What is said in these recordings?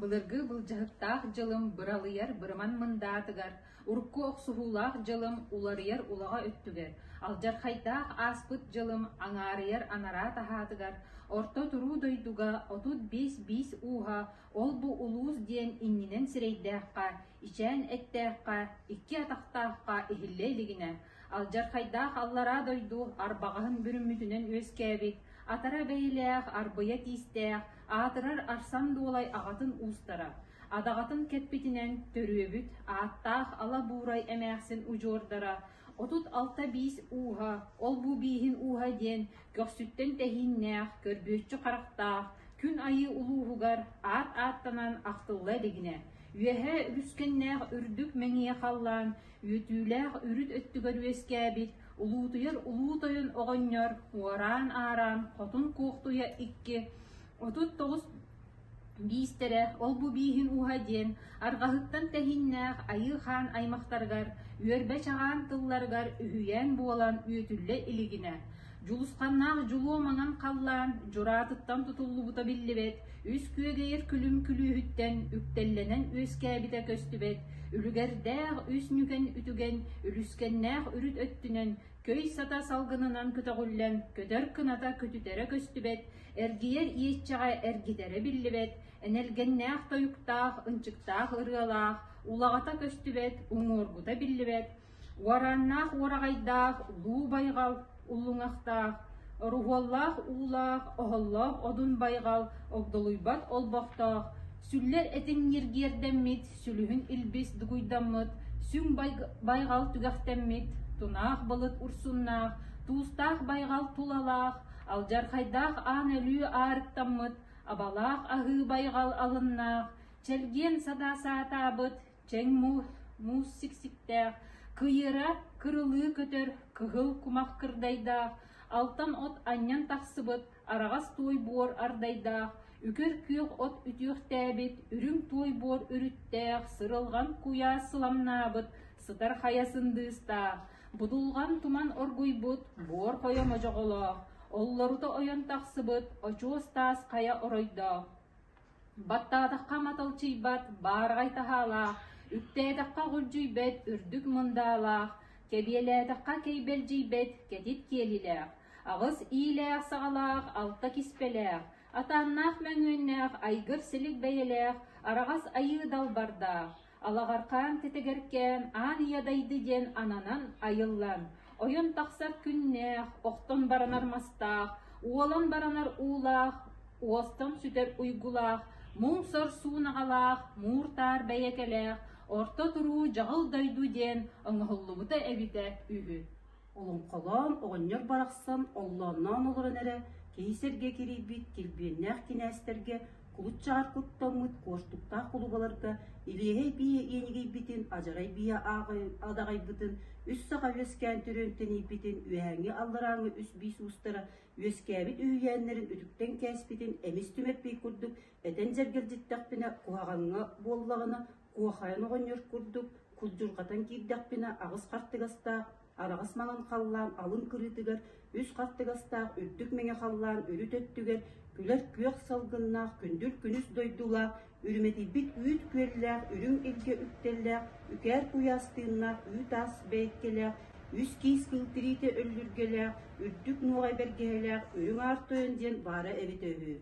Былыргы былдьаһыктаах дьылым быралыйар бырыман мындаатыгар, урукку охсуһуулаах дьылым уларыйар улаҕа өттүгэр, алдьархайдаах ааспыт дьылым аҥаарыйар анараа таһаатыгар, орто туруу дойдуга отут биэс биис ууһа ол-бу улуус диэн иннинэн сирэйдээххэ, ичээн эттээххэ, икки атахтаахха иһиллэ илигинэ, Алдьархайдаах аллараа дойду арбаҕаһын бүрүммүтүнэн үөскээбит, атара бэйилээх арбыйа тиистээх, аатырар Арсан Дуолай аҕатын уустара, адаҕатын кэппитинэн төрүөбүт ааттаах ала буурай эмээхсин удьуордара, отут алта биис ууһа, ол-бу бииһин ууһа диэн көхсүттэн тэһииннээх, көрбүөччү харахтаах, күн айыы улууһугар аат ааттанан ахтылла илигинэ, үөһэ үгүскэннээх үрдүк мэҥийэ халлаан үөтүүлээх үрүт өттүгэр үөскээбит, улуутуйар улуу тойон оҕонньор уораан аараан хотун куохтуйа икки, отут тоҕус биистэрэ ол-бу бииһин ууһа диэн арҕаһыттан тэһиннээх айыы хаан аймахтарыгар үөрбэ чаҕаан тылларыгар үһүйээн буолан үөтүллэ илигинэ Дьулусханнаах дьулуоманан халлаан дьураатыттан тутуллубута биллибэт, үс күөгэйэр күлүм күлүүһүттэн үктэллэнэн үөскээбитэ көстүбэт, үлүгэрдээх үс нүкэн үтүгэн, үлүскэннээх үрүт өттүнэн көй сата салгынынан көтөҕүллэн көтөр кыната көтүтэрэ көстүбэт, эргийэр иэччэҕэ эргитэрэ биллибэт, энэлгэннээх тойуктаах, ынчыктаах ырыалаах, улаҕата көстүбэт, уҥуоргута биллибэт, Уораннаах уораҕайдаах дуу байҕал уллуҥахтаах, оруһуоллаах уулаах, оһоллоох одун байҕал огдолуйбат олбохтоох, сүллэр этиҥ ньиргиэрдэммит, сүлүһүн илбис дугуйдаммыт, сүҥ байҕал түгэхтэммит, тунаах былыт урсуннаах, туустаах байҕал тулалаах, алдьархайдаах аан өлүү аарыктаммыт, абалаах аһыы байҕал алыннаах, чэлгиэн садаа саатаабыт, чэҥ муус, муус сиксиктээх, кыйыра, кырылыы көтөр, кыһыл кумах кырдайдаах, алтан от анньан тахсыбыт, араҕас туой буор ардайдаах, үкэр күөх от үтүөхтээбит, үрүҥ туой буор үрүттээх, сырылҕан куйаас сыламнаабыт, сытар хайа сындыыстаах, будулҕан туман оргуйбут, буор хойо модьоҕолоох, оллорута ойон тахсыбыт, очуос таас хайа оройдоох, Баттаатахха маталчыйбат баараҕай таһаалаах, үктээтэххэ ҕулдьуйбэт үрдүк мындаалаах, кэбиэлээтэххэ кэйбэлдьийбэт кэтит киэлилээх, аҕыс иилээх-саҕалаах алта киспэлээх, атааннаах мөҥүөннээх айгыр силик бэйэлээх, араҕас айыы далбардаах, Алаҕархаан тэтэгэркээн Аан Ийэ дайды диэн ананан айыллан, ойон тахсар күннээх, охтон баранар мастаах, уолан баранар уулаах, уостан сүтэр уйгулаах, муҥ-сор суунаҕалаах, муур-таар бэйэкэлээх, орто туруу дьаҕыл дойду диэн оҥоһуллубута эбитэ үһү. Олоҥхолоон оҕонньор барахсан оллоонноон олорон эрэ киһи сэргэ кирийбит килбиэннээх кинээстэргэ кулут чаҕар куттаммыт куортуктаах кулугаларга илиэһэй бие иэнигийбитин адьарай бие адаҕайбытын үс саха үөскээн төрүөн тэнийбитин үөһээҥҥи алларааҥҥы үс биис уустара үөскээбит үһүйээннэрин үтүктэн кээспитин эмис түмэрпий курдук этэн дьэргэлдьиттэхпинэ куһаҕаҥҥа буоллаҕына Куохайан оҕонньор курдук курдьурҕатан киирдэхпинэ аҕыс хартыгастаах араҕас маҥан халлаан алын кырыытыгар үс хартыгастаах үрдүк мэҥэ халлаан үрүт өттүгэр күлэр күөх салгыннаах күндүл күнүс дойдулаах үрүмэтийбит үүт күөллээх үрүҥ илгэ үктэллээх үкээр куйаас тыыннаах үү таас бэйкэлээх үс киис кыл тириитэ өллүргэлээх үрдүк нуоҕай бэргэһэлээх үрүҥ аар тойон диэн баара эбитэ үһү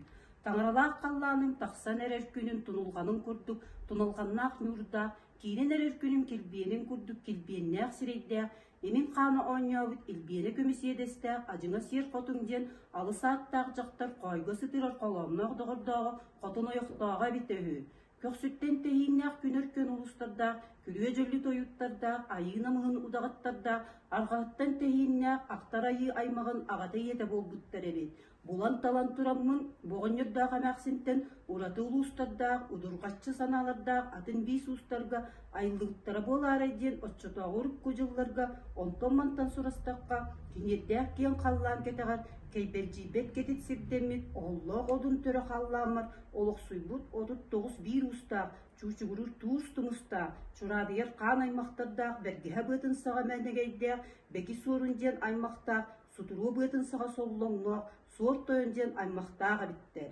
Таҥаралаах халлааным тахсан эрэр күнүн тунулҕаным курдук туналҕаннаах ньуурдаах, киирэн эрэр күнүм килбиэнин курдук килбиэннээх сирэйдээх, имин-хаана оонньообут илбиэнэ көмүсиэдэстээх адьыҥа сиэр хотун диэн алыс ааттаах дьахтар хоойго сытыырар холоомноох доҕордооҕо хотун ойохтооҕо эбитэ үһү. Көхсүттэн тэһииннээх күнэр күн улуустардаах, күлүө дьөллү тойуттардаах, айыы намыһын удаҕаттардаах, арҕаһыттан тэһииннээх ахтар айыы аймаҕын аҕата ийэтэ буолбуттар эбит. Булан-талан тураммын, боҕонньордоох эмээхсинтэн ураты улуустардаах, удурҕаччы санаалардаах атын биис уустарга айыллыбыттара буолаарай диэн оччотооҕу урукку дьылларга онтон-мантан сурастахха, тиниэрдээх киэҥ халлаан кэтэҕэр кэйбэлдьийбэт кэтит сирдэммит оһоллоох одун төрө халлааммар олохсуйбут отут тоҕус биир уустаах, чуучугуруур туус тумустаах, чураадыйар хаан аймахтардаах бэргэһэ быатын саҕа мээнэгэйдээх, бэки суорун диэн аймахтаах Сутуруо быатын саҕа соллоҥҥо Суор Тойон диэн аймахтаах эбиттэр.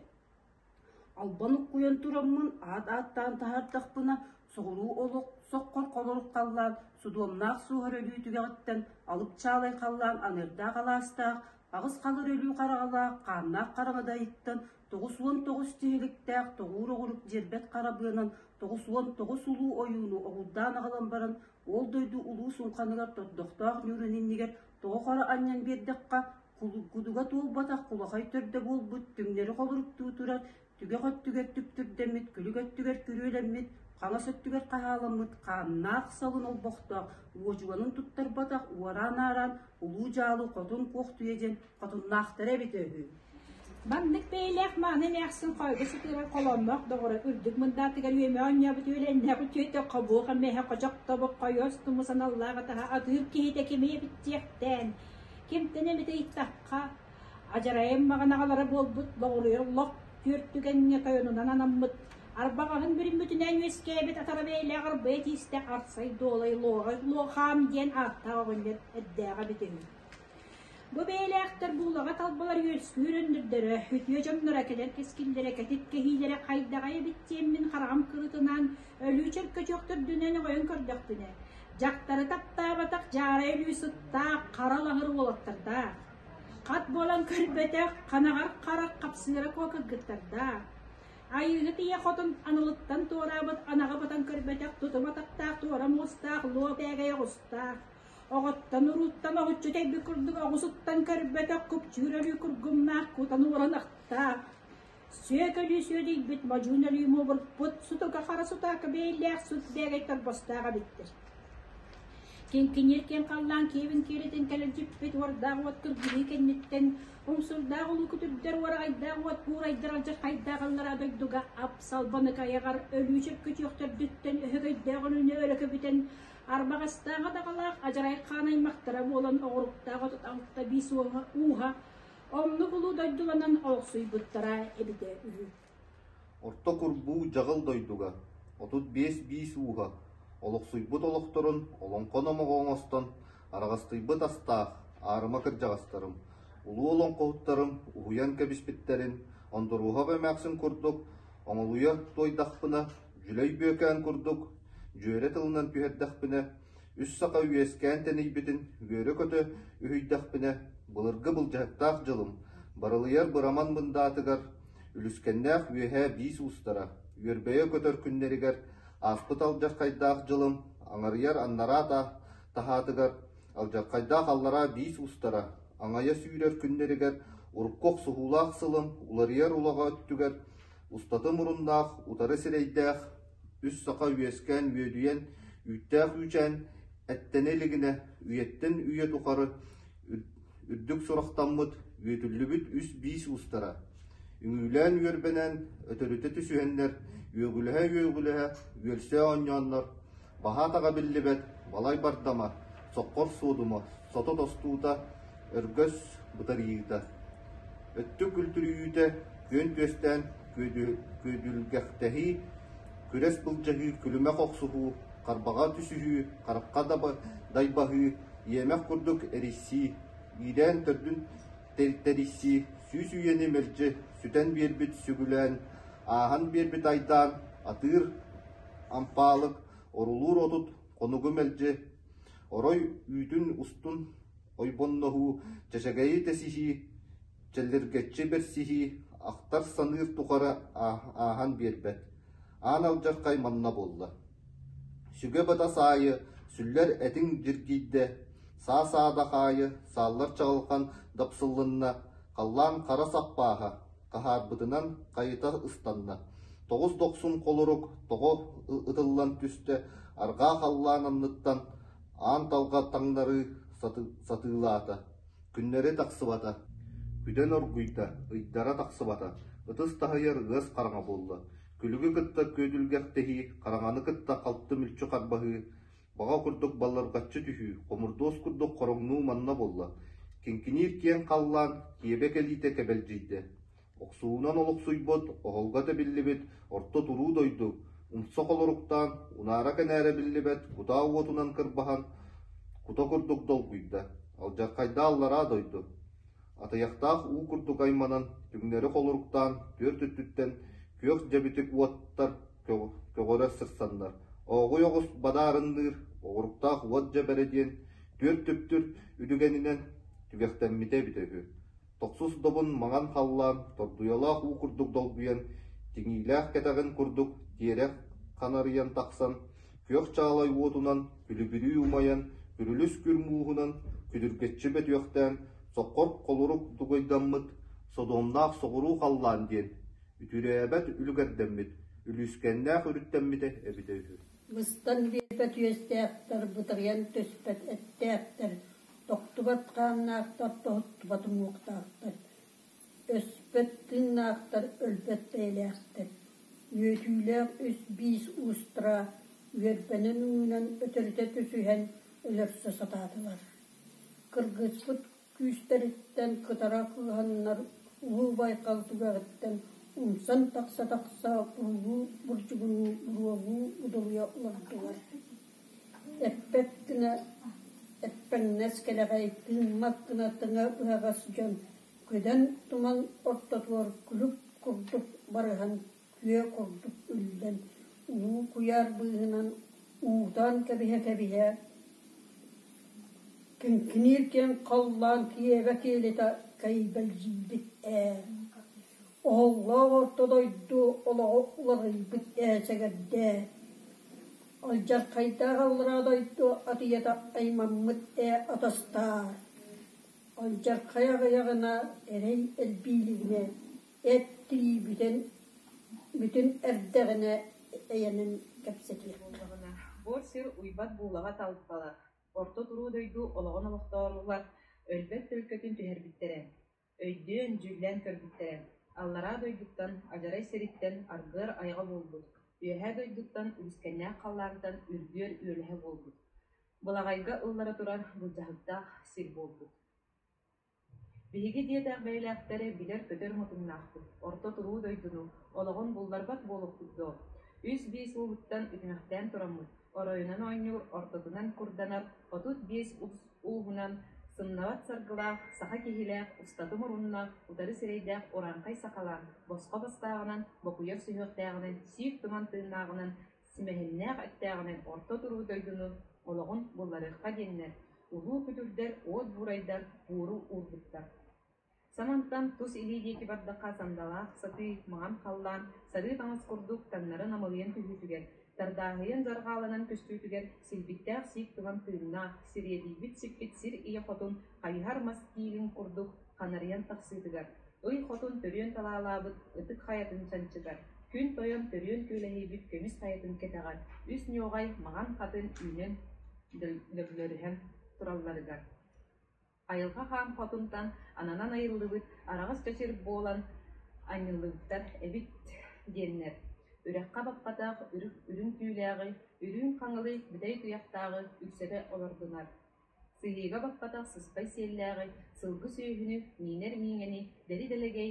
Албан уккуйан тураммын аат ааттаан таһаардахпына, соҕуруу олох соххор холорук халлаан судуомнаах суоһар өлүү түгэҕиттэн алыпчаалай халлаан аныырдаах алаастаах, аҕыс халыр өлүү хараҕалаах хааннаах хараҥада ыйыттан тоҕус уон тоҕус тиһиликтээх тоҕуур оҕурук дьиэрбэт харабыанан тоҕус уон тоҕус улуу ойууну оҕурдаан аҕалан баран ол дойду улуу суҥханыгар тордохтоох ньуурун иннигэр Тоҕо хара анньан биэрдэххэ, кулуггутуга туолбатах кулахай төрдө буолбут түҥнэри холоруктуу турар түгэх өттүгэр түптүрдэммит күлүк өттүгэр күрүөлэммит хаҥас өттүгэр хаһааламмыт хааннаах салын олбохтоох уочуганын туттарбатах уораан аараан улуу дьаалы хотун куохтуйа диэн хотуннаахтара эбитэ үһү Маннык бэйэлээх мааны эмээхсин хоойго сытыыран холоонноох доҕоро үрдүк мындаатыгар үөмэ оонньообут үөлэннээх үтүөтөххө буоха мэһэ хочохтобук хойуос туму саналлаах атаһа атыыр киһитэ кимэ эбиттиэхтээн кимтэн эмитэ ыйыттахха адьарайым маҕанаҕалара буолбут боҕуруйар лох түөрт түгэҥҥэ тойонунан анаммыт арбаҕаһын бүрүммүтүнэн үөскээбит атара бэйэлээх арбайа тиистэ арсай дуолай луоҕа луохаам диэн ааттаах оҕонньор эрдээҕэ бүтүн Бу бэйэлээхтэр буулаҕа талбалар үөлсүүр өндөрдөрө, үтүө дьонноро кэлэр кэскиллэрэ, кэтит кэһиилэрэ хайдаҕа эбит диэммин хараҕым кырытынаан өлүү чөркөчөөхтөрдүнэн оҕойон көрдөхпүнэ, дьахтары таптаабатах дьаарай өлүү сыттаах хара лаҥыр уолаттардаах, хат буолан көрбөтөх ханаҕар харах хапсыыра куокагыттардаах, айыыһыт ийэ хотун аналыттан туораабыт анаҕа батан көрбөтөх тутум атахтаах туора муостаах луо бээгэй оҕустаах, Оҕоттон урууттан оһуччу тэйбит курдук оҕусуттан көрбөтөх купчуур өлүү кургумнаах кутан уоран ахтаах, сүөкөлүү сүөдүйбүт модьуун өлүү муобурпут сутука хара сутаaka бэйэлээх сут бээгэй торбостаах эбиттэр. Киҥкиниир киэҥ халлаан киэбин киэлитин кэлэрдьиппит уордаах уот кыргылыы кэнниттэн умсурдаах улуу күтүрдэр уораҕайдаах уот буурайдар алдьархайдаах аллараа дойдуга апсалбаныкайаҕар өлүү сөпкө күтүөхтөрдүттэн өһөгөйдөөх өлүүнү өлөкө бүтэн Арбаҕастааҕа даҕалаах адьарай хаан аймахтара буолан оҕуруктаах отут алта биис уоһа ууһа оннук улуу дойдуланан олохсуйбуттара эбитэ үһү. Орто курбуу дьаҕыл дойдуга отут биэс биис ууһа олохсуйбут олохторун олоҥхо номоҕо оҥостон араҕастыйбыт астаах аарыма кырдьаҕастарым улуу олоҥхоһуттарым уһуйан кэбиспиттэрин Ондоруоһап эмээхсин курдук оҥолуйа туойдахпына Дьүлэй Бүөкээн курдук дьүөрэ тылынан түһэрдэхпинэ, үс саха үөскээн тэнийбитин үөрэ-көтө үһүйдэхпинэ, былыргы былдьаһыктаах дьылым, барылыйар быраман мындаатыгар, үлүскэннээх үөһээ биис уустара, үөрбэйэ көтөр күннэригэр ааспыт алдьархайдаах дьылым, аҥарыйар аннараа таһаатыгар, алдьархайдаах аллараа биис устара, аҥайа сүүрэр күннэригэр, урукку охсуһуулаах сылым, уларыйар улаҕа өттүгэр устата муруннаах, утары сирэйдээх, үс саха үөскээн үөдүйэн, үүттээх үүчээн эттэнэ илигинэ үйэттэн үйэ тухары үрдүк сурахтаммыт, үөтүллүбүт үс-биис уустара, үҥүүлээн үөрбэнэн, өтөрүтэ түсүһэннэр, үөгүлэһэ-үөгүлэһэ үөлсэ оонньооннор, баһа атаҕа биллибэт балай бардама, соккор суодума, сото тостуута, Өргөс бытарыйыыта, өттүк күлтүрүйүүтэ, күөн түөстээн күөдүлгэхтэһии, күрэс былдьаһыы, күлүмэх охсуһуу, харбаҕа түсүһүү, харахха дайбаһыы, иэмэх курдук эрийсии, иидээн төрдүн тэрийсии, сүүс үйэни мэлдьи сүтэн биэрбит сүгүлээн, ааһан биэрбит айдаан, атыыр ампаалык, орулуур отут, хонугу мэлдьи Орой үүтүн устун ойбонноһуу, чачагэйи тэсиһии, чэллиргэччи бэрсиһии ахтар саныыр тухары ааһан биэрбэт, аан алдьархай манна буолла: сүгэ-бытас аайы сүллэр этиҥ дьиргийдэ, саа-саадах аайы сааллар чаҕылҕан дапсыллынна, халлаан хара саппааһа Хаһаарбытынан хайыта ыстанна. Тоҕус дохсун холорук тоҕо ытыллан түстэ, арҕаа халлаан анныттан аан талга таҥнарыы сатыылаата. Күннэри тахсыбата. Күдэн оргуйда, ыйдара тахсыбата. Ытыс таһыйар ыас хараҥа буолла. Күлүгү кытта күөдүлгэхтэһии, хараҥаны кытта халты мүлчү харбаһыы, Баҕа курдук баллырҕаччы түһүү, хомурдуос курдук хороҥнуу манна буолла, кинкиниир киэҥ халлаан киэбэ кэлиитэ кэбэлдьийдэ. Охсуунан олохсуйбут, оһолго тэбиллибит орто туруу дойду умса холоруктаан, унаара-кэнээрэ биллибэт кутаа уотунан кырбаһан, кута курдук долгуйда, алдьархайдаа аллараа дойду. Атыйахтаах уу курдук айманан, түҥнэри холоруктаан, түөрт өттүттэн күөх дьэбитик уоттар көҕөрө сырсаннар, ооҕуй оҕус бадаарынныыр оҕуруктаах уот дьэбэрэ диэн түөрт түптүр үтүгэнинэн түгэхтэммитэ эбитэ үһү. Тохсус добун маҥан халлаан тордуйалаах уу курдук долгуйан, тиҥиилээх кэтэҕин курдук тиэрэх ханарыйан тахсан, күөх чаалай уотунан күлүбүрүү умайан, күрүлүс күр мууһунан күдүргэччи бөтүөхтээн, соккор холурук дугуйдаммыт Содомнаах соҕуруу халлаан диэн Үтүрээбэт үлүгэрдэммит, үлүүскэннээх өрүттэммитэ эбитэ үһү Быстан биэпэ түөстээхтэр бытарыйан түспэт эттээхтэр, тохтубат хааннаахтар тоһуттубат уҥуохтаахтар, өспөт тыыннаахтар өлбөт бэйэлээхтэр, үөтүүлээх үс-биис уустара үөрбэнэн уунан өтөрүтэ түсүһэн өлөрсө сатаатылар. Кыргыспыт күүстэриттэн кытара кыыһаннар Уһу Байкал түгэҕиттэн умсан тахса-тахса булуу бурдьугунуу уруогу удуруйа олордулар эппэт гына эппэҥнэс кэлэҕэй тыыммат гына тыҥа быһаҕас дьон күдэн туман ортотугар күлүк курдук барыһан күөх ордук үллэн, уу куйаар быыһынан уутаан кэбиһэ-кэбиһэ, киҥкиниир диэн халлаан киэбэ киэлитэ кэйбэлдьийбит ээ, оһоллоох орто дойду олоҕо уларыйбыт ээ сэгэрдээ, алдьархайдаах аллараа дойду атыйата аймаммыт ээ атастаар, алдьархай аҕыйаҕына эрэй элбиилигинэ эт-тии бүтэн бүтүн эрдэҕинэ эйэнэн кэпсэтиэххэ. Бу сир уйбат буулаҕа талпалар, орто туруу дойду олоҕун олохтооруулар өлбөт төлкөтүн түһэрбиттэрэ. Өйдөөн, дьүүллээн көрбүттэрэ. Аллараа дойдуттан адьарай сириттэн аргыар айаҕа буолбут, үөһээ дойдуттан үгүскэннээх халлаантан үргүөр үөлэһэ буолбут. Былаҕайга ыллара турар былдьаһыктаах сир буолбут. Биһиги диэтэх бэйэлээхтэри билэр-көтөр мутуҥнаахпыт, орто туруу дойдуну, олоҕун булларбат буолуохпут дуо, үс-биис ууһуттан үтүмэхтээн тураммыт, оройунан оонньуур ортотунан курданар отут биэс ус ууһунан сымнаҕас саргылаах, саха киһилээх, устата муруннаах, утары сирэйдээх урааҥхай сахалаан, босхо бастааҕынан, бокуйар сүһүөхтээҕинэн, сиик туман тыыннааҕынан Симэһиннээх эттээҕинэн орто туруу дойдуну, олоҕун булларыахха диэннэр улуу күтүрдэр, уот буурайдар буору уурбуттар. Санантан тус илии диэки бардахха сандалаах сатыы маҥан халлаан сарыы таҥас курдук таҥнары намылыйан түһүүтүгэр, тардааһыйан дьарҕааланан көстүүтүгэр силбиттээх сиик тылан тыыннаах, сириэдийбит сиппит сир ийэ хотун хайыһар мас тииһин курдук ханарыйан тахсыытыгар, ый хотун төрүөн талаалаабыт ытык хайатын чанчытар, күн тойон төрүөн күөлэһийбит көмүс хайатын кэтэҕэр үс ньуоҕай маҥан хатын үүнэн лөглөрүһэн туралларыгар, айылҕа хаан хотунтан ананан айыллыбыт араҕас чэчир буолан анньыллыбыттар эбит диэннэр, үрэххэ-баппатах үрүҥ түүлээҕи, үрүүн хаҥылый бүтэй туйахтааҕы үксэтэ олордунар. Силиигэ баппатах сыспай сиэллээҕи, сылгы сүөһүнү, миинэр мииҥэни, дэри-дэлэгэй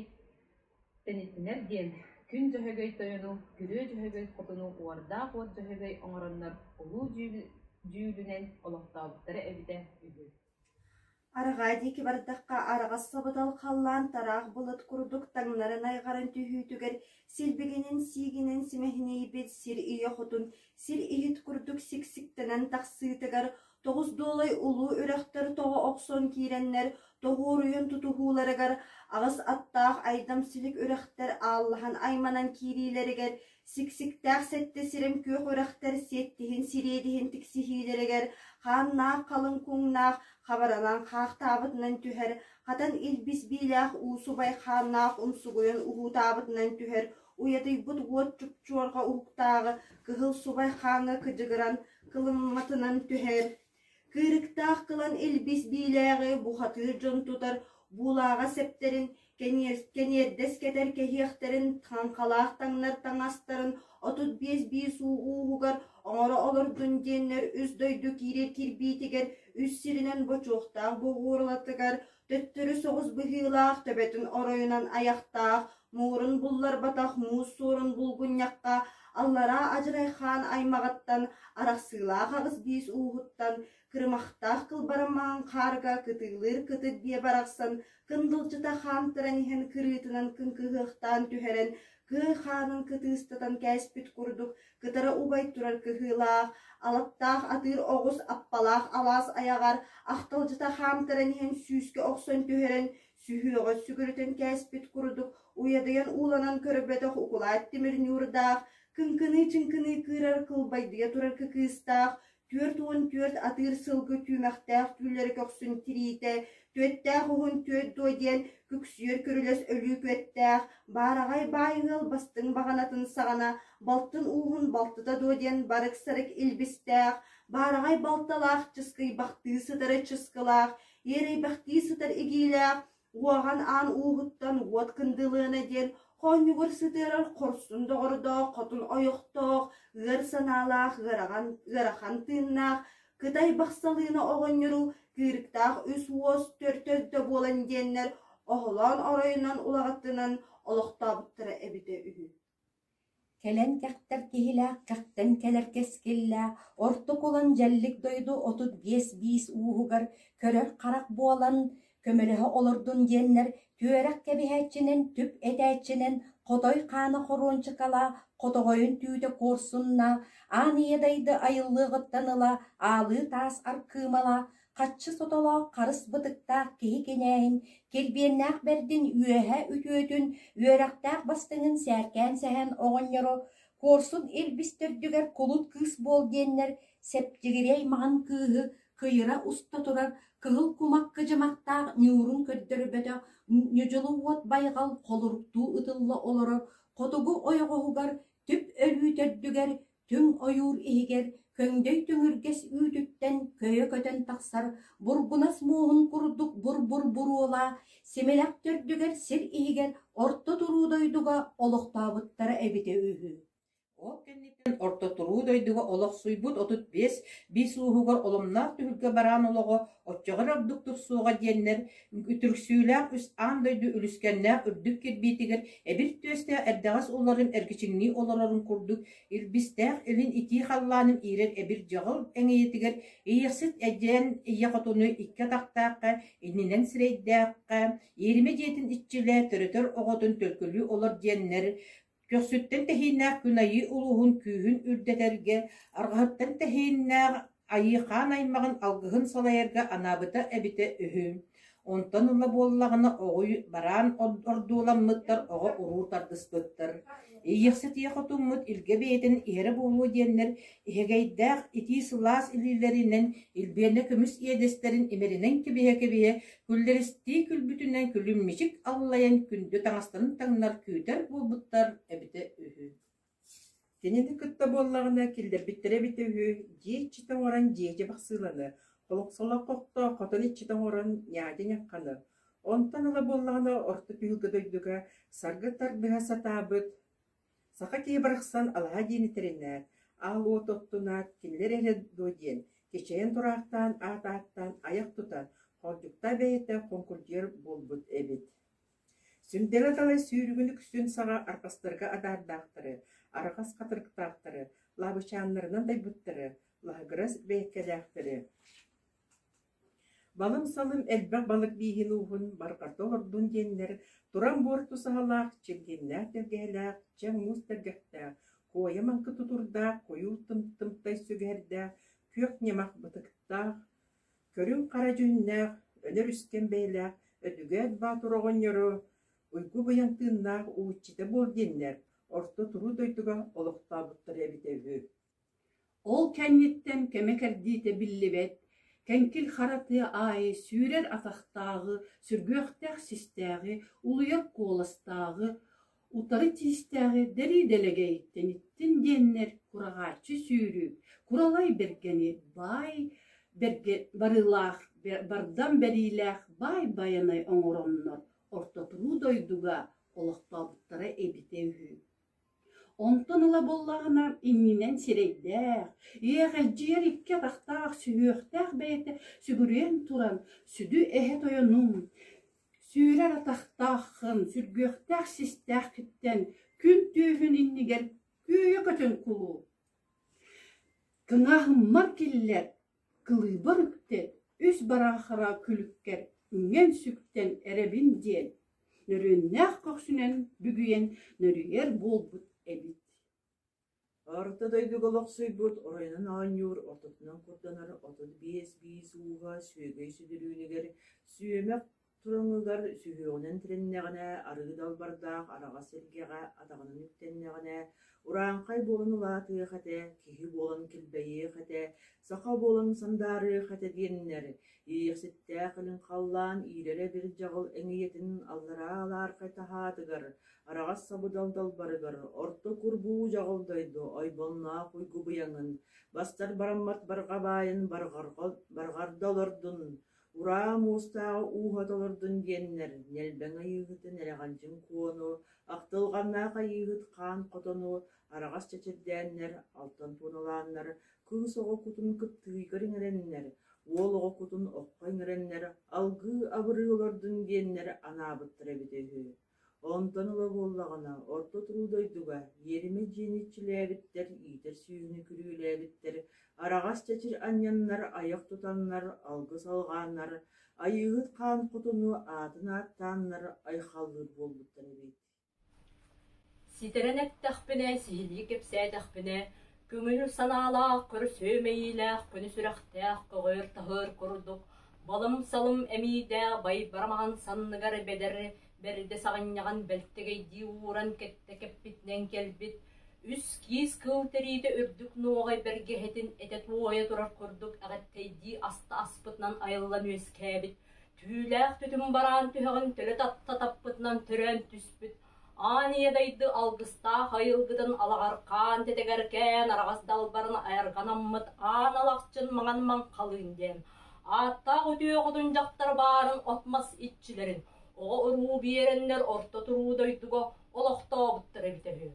тэнитинэр диэн күн дьөһөгөй тойону, күрүө дьөһөгөй хотуну уордаах уот дьөһөгөй оҥороннор улуу дьүүлүнэн олохтообуттара эбитэ үһү Арҕаа диэки бардахха араҕас собутал халлаан тараах былыт курдук таҥнарын айҕарын түһүүтүгэр силбигинин сиигинэн симэһинэйбит сир ийэ хотун сир иһит курдук сиксиктэнэн тахсыытыгар Тоҕус дуолай улуу үрэхтэр тоҕо охсон киирэннэр тоһуоруйун тутуһууларыгар аҕыс аттаах айдам-силик үрэхтэр ааллаһан айманан киириилэригэр, сиксиктээх сэттэ сирим күөх үрэхтэр сиэттиһин сириэдиһин тиксиһиилэригэр хааннаах халыҥ куҥнаах хабаралаан хаахтаабытынан түһэр, хатан илбис биилээх уусубай хааннаах умсугуйан уһуутаабытынан түһэр Уйатыйбыт уот чупчуорга уһуктааҕы кыһыл субай хааҥҥа кыдьыгыран, кылымматынан түһэр, кыырыктаах кылан илбис биилээҕи бухатыыр дьон тутар буулааҕа сэптэрин, кэниэрдэс кэтэр кэһиэхтэрин, хаҥхалаах таҥнар таҥастарын отут биэс биис уу ууһугар оҥоро олордун диэннэр үс дойду киирэр кирбиитигэр үс сиринэн бочуохтаах боҕуорлатыгар төттөрү соҕус быһыылаах, төбөтүн оройунан айахтаах, муурун булларбатах муус суорун булгунньахха аллараа адьырайхаан аймаҕыттан арахсыылаах аҕыс биис ууһуттан кырымахтаах кылбарамаан хаарга кытыылыыр кытыт диэ барахсан кындылдьыта хаамтаран иһэн кырыытынан кыҥкыһыахтаан түһэрэн Кыай хаанын кытыыстатан кээспит курдук кытара убай турар кыһыылаах, алаптаах атыыр оҕус аппалаах алаас айаҕар ахталдьыта хаамтаран иһэн сүүскэ охсон түһэрэн, сүһүөҕэ сүгүрүтэн кээспит курдук уйадыйан ууланан көрбөтөх укулаат тимир ньуурдаах, кыҥкыныы-чыҥкыныы кыырар кылбайдыйа турар кыкыыстаах, Түөрт уон түөрт атыыр сылгы түүмэхтээх түүллэрэ көхсүн тириитэ, түөттээх уһун түөт дуо диэн күксүйэр көрүлэс өлүүкүөттээх, баараҕай баай ыал бастыҥ баҕанатын саҕана балтын ууһун балтыта дуо диэн барык-сарык илбистээх, баараҕай балталаах чыскыйбахтыы сытары чыскылаах, иэрэйбэхтии сытар игиилээх, Уоһан аан ууһуттан уот кындылыана диэн хоонньугур сытыарар хорсун доҕордоох хотун ойохтоох, ыар санаалаах, ыарахан, ыарахан тыыннаах, кытай бахсалыына оҕонньору кыырыктаах үс уос төрдө буолан диэннэр оһолоон оройунан улаҕаттынан олохтообуттара эбитэ үһү Кэлэн кэхтэр киһилээх кэхтэн кэлэр кэскиллээх орто кулан дьэллик дойду отут биэс биис ууһугар көрөр харах буолан көмөлөһө олордун диэннэр түөрэх кэбиһээччинэн түп этээччинэн хотой хаана хоруончукалаах хотоҕойун түүтэ куорсунна аан ийэ дайды айыллыаҕыттан ыла аалыы таас аркыымалаах Хаччы сотолоох харыс бытыктаах киһи кинээһин килбиэннээх бэрдин үөһэ үтүөтүн, үөрэхтээх бастыҥын сээркээн сэһэн оҕонньору куорсун илбис төрдүгэр кулут кыыс буол диэннэр сэптигири аймаҕын кыыһы кыйыра уста турар кыһыл кумах кыдьымахтаах ньуурун көрдөрбөтөх ньудьулу уот байҕал холуруктуу ытылла олорор хотугу ойоҕоһугар түп өлүү төрдүгэр түҥ ойуур иһигэр көҥдөй түҥүргэс үүтүттэн көйө көтөн тахсар бургунас муоһун курдук бур-бур буруола симэлэх төрдүгэр сир иһигэр орто туруу дойдуга олохтообуттара эбитэ үһү ол кэнниттэн орто туруу дойдуга олохсуйбут отут биэс биис ууһугар оломноох түһүлгэ бараан олоҕо Оччоҕор ордук тупсуоҕа диэннэр, үтүрүксүүлээх үс аан дойду үлүскэннээх үрдүк кирбиитигэр эбир түөстээх эрдэҕэс ууларын эргичиҥнии олорорун курдук, илбистээх илин итии халлаанын иирэр эбир дьоҕул эҥийэтигэр иэхсит эдьээн ийэ хотуну икки атахтаахха иннинэн сирэйдээххэ, иэримэ дьиэтин иччилэ төрөтөр оҕотун төлкөлүү олор диэннэр Көхсүттэн тэһииннээх күн Айыы улууһун күүһүн үрдэтэргэ, арҕаһыттан тэһииннээх Айыы хаан аймаҕын алгыһын салайарга анаабыта эбитэ үһү. Онтон ыла буоллаҕына оҕуй бараан ордуоламмыттар оҕо-уруу тардыспыттар. Иийэхситии хотуммут илгэ бэйэтин иһэрэ буолуо диэннэр иһэгэйдээх итии сылаас илиилэринэн илбиэнэ көмүс иэдэстэрин имэринэн кэбиһэ-кэбиһэ Күллэристии күлбүтүнэн күлүмньүчүк аллайан күндү таҥастарын таҥнар күүтэр буолбуттар эбитэ үһү Кинини кытта буоллаҕына киллэрбиттэрэ эбитэ үһү дьиэ иччитэ оҥорон дьиэчэ бахсыыланы, холоксолоох хохтоох хотон иччитэ оҥорон ньаадьа ньахханы, онтон ыла буоллаҕына орто түһүлгэ дойдуга саргы тардыһа сатаабыт Саха киһи барахсан алаһа диэни тэринээт, аал уот оттунаат, кинилэр эрэ дуо диэн кичэйэн тураахтаан аат ааттаан айах тутан хордьуктаа бэйэтэ хоҥкурдьуйар буолбут эбит Сүҥдэлэ-талай сүүрүгүн үксүн саҕа арҕастарга адаардаахтары, арҕас хатырыктаахтары, лаабычааннарынан дайбыттары, лаһыгырас бэйэккэлээхтэри Балым-салым элбэх балык бииһин-ууһун барҕата олордун диэннэр туран буор тусаһалаах, чилгииннээх тэлгэһэлээх, чэ муус тэлгэхтээх, куойа-маҥкы тутурдаах, куйуур тымтымтай сүгэһэрдээх, күөх ньамах бытыктаах, көрүҥ-хара дьүһүннээх, өнөр-үскэн бэйэлээх Өдүгэт Боотур оҕонньоро уйгу быйаҥ тыыннаах уһуччута буол диэннэр орто туруу дойдуга олохтообуттара эбитэ үһү Ол кэнниттэн кэмэ кэрдиитэ биллибэт, Кэҥкил Хара тыа аайы сүүрэр атахтааҕы, сүргүөхтээх систээҕи, улуйар куоластааҕы, утары тиистээҕи дэлии дэлэгэйиттэн иттин диэннэр кураҕааччы сүүрүү, куралай бэргэни баай бэргэ барыылаах, бардам бэриилээх баай байанай оҥороннор орто туруу дойдуга олохтообуттара эбитэ үһү Онтон ыла буоллаҕына иннинэн сирэйдээх, иэҕэлдьийэр икки атахтаах сүһүөхтээх бэйэтэ сүгүрүйэн туран сүдү эһэ тойонум, сүүрэр атахтааххын сүргүөхтээх систээххиттэн күн түүһүн иннигэр күөйэ көтөн кулуу, кыҥаһыммар киллэр Кылыыбыр үктэ үс бараахара күлүккэр үҥэн сүктэн эрэбин диэн нөрүөннээх көхсүнэн бүгүйэн нөрүйэр буолбут эбит Орто дойдуга олохсуйбут оройунан оонньуур ортотунан курданар отут биэс биис ууһа сүөгэй сүдүрүүнүгэр сүөмэх Тураҥыгар сүһүөҕүнэн тирэннэҕинэ, арыы далбардаах араҕас сэргэҕэ атаҕынан үктэннэҕинэ, урааҥхай буолан улаатыах этэ, киһи буолан килбэйиэх этэ, саха буолан сандаарыах этэ диэннэр, иэйэхситтээх илин халлаан иирэрэ бир дьаҕыл эҥийэтин аллараа алаархай таһаатыгар, араҕас сабыдал далбарыгар орто курбуу дьаҕыл дойду ойбонноох уйгубуйаҥын, бастар бараммат барҕа баайын барҕарга олордун, Ураа муустааҕы ууһа толордун диэннэр, нэлбэҥ айыыһытын эрэҕэлдьин куону, ахтылҕаннаах айыыһыт хаан хотону араҕас чэчирдээннэр, алтан туоналааннар, кыыс оҕо кутун кыптыыйгар иҥэрэннэр, уол оҕо кутун окко иҥэрэннэр, алгыы абырыы олордун диэннэр анаабыттара эбитэ үһү Онтон ыла буоллаҕына, орто туруу дойдуга иэримэ дьиэни иччилээбиттэр, иитэр сүүһүнү күрүөлээбиттэр, араҕас чэчир анньаннар, айах тутаннар, алгыс алҕааннар, Айыыһыт Хаан Хотуну аатын ааттааннар айхаллыыр буолбуттар эбит. Ситэрэн эттэхпинэ, сиһилии кэпсээтэхпинэ, Көҥүл санаалаах, көрүсүөмэйиилээх, күнү сүрэхтээх, көҕүөр-таһыар курдук балым-салым эмиийдээх байбарамаҕан санныгар бэдэр бэрдэ саҕынньаҕан бэлтэгэйдии ууран кэттэ кэппитинэн кэлбит үс киис кыыл тэриитэ үрдүк нуоҕай бэргэһэтин этэ туойа турар курдук эҕэттэйдии аста аспытынан айыллан үөскээбит түүлээх түтүм бараан түһэҕин төлө татта таппытынан төрөөн түспүт Ааньыйа дайды алгыстаах айылгытын алаҕархаан тэтэгэркээн араҕас далбарын айарҕанаммыт аан алахчын маҥан-маҥ халыын диэн ааттаах үтүөҕутун дьахтар баарын от-мас иччилэрин, оҕо-уруу биэрэннэр орто туруу дойдуга олохтообуттара эбитэ үһү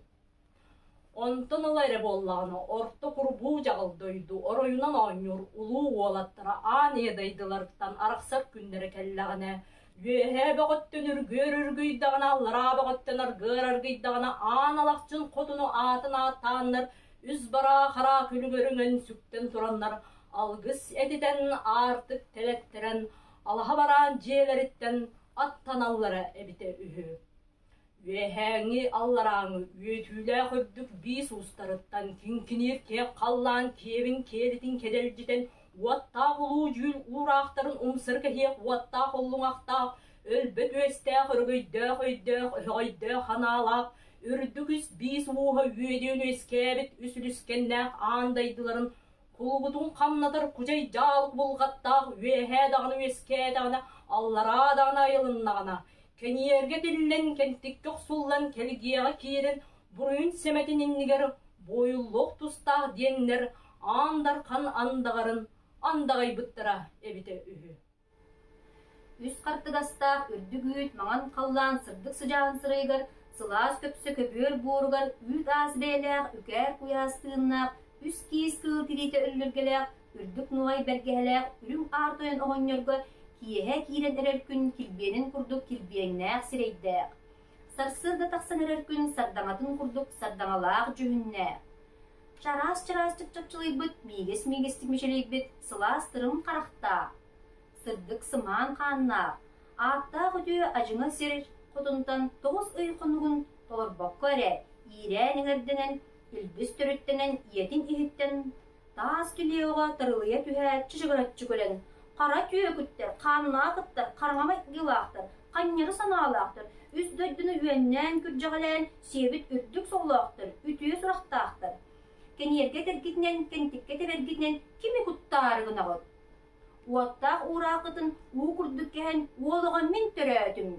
Онтон ыла эрэ буоллаҕына орто курбуу дьаҕал дойду оройунан оонньуур улуу уолаттара аан иэдэйдилэртэн арахсар күннэрэ кэллэҕинэ үөһээ бөҕөттөн үргүөр үргүйдэҕинэ аллараа бөҕөттөн аргыар аргыйдаҕына аан алахчын хотуну аатын ааттааннар үс бараа хараа күлүгэр өҥөн сүктэн тураннар алгыс этитэн аартык тэлэттэрэн алаһа бараан дьиэлэриттэн аттаналлара эбитэ үһү Үөһээҥи алларааҥы үөтүүлээх үрдүк биис уустарыттан тиҥкиниир киэп халлаан киэбин киэлитин кэдэлдьитэн уоттаах улуу дьүүл уураахтарын умсар кэһиэх уоттаах уллуҥахтаах өлбөт үөстээх өрөгөйдөөх өйдөөх өһөҕөйдөөх ханаалаах үрдүк үс биис ууһа үөдүөн үөскээбит үс үлүскэннээх аан дайдыларын кулубутун хамнатар кудьай дьаалык булгаттаах үөһээ даҕаны үөскээтэҕинэ аллараа даҕаны айылыннаҕына кэнийэргэ тиллэн кэнтиккэ охсуллан кэлгиэҕэ киирэн буруйун сэмэтин иннигэр буойуллуох тустаах диэннэр аан дархан андаҕарын андаҕайбыттара эбитэ үһү Үс хартыгастаах үрдүк үүт маҥан халлаан сырдык сыдьаан сырайыгар сылаас көпсө көбүөр буоругар үүт аас бэйэлээх үкээр куйаас тыыннаах үс киис кыыл тириитэ өллөргөлөөх үрдүк нуҕай бэргэһэлээх үрүҥ аар тойон оҕонньорго киэһэ киирэн эрэр күн килбиэнин курдук килбиэҥнээх сирэйдээх, сарсыарда тахсан эрэр күн сардаҥатын курдук сардаҥалаах дьүһүннээх. Чараас-чараастык чапчылыйбыт миигэс-миигэстик мичилийбит сылаас тырым харахтаах, сырдык сымаан хааннаах, ааттаах үтүө адьыҥа сир кутунтан тоҕус ый хонугун толорбокко эрэ иирээн иҥэрдэнэн, үлбүс төрүттэнэн ийэтин иһиттэн таас килиэҕэ тырылыйа түһээт чычыгыраччы кэлэн, хара түөкүттэр, хааннаах ыттар, хараҥа майгылаахтар, ханньары санаалаахтар үс дойдуну үөннээн күрдьэҕэлээн Сиэбит үрдүк соолоохтор, үтүө сурахтаахтар. Кэниэргэ этэргитинэн, кэнтиккэ тэбэргитинэн кими куттаары гынаҕыт? Уоттаах уурааххытын уу курдук кэһэн, уол оҕо мин төрөөтүм.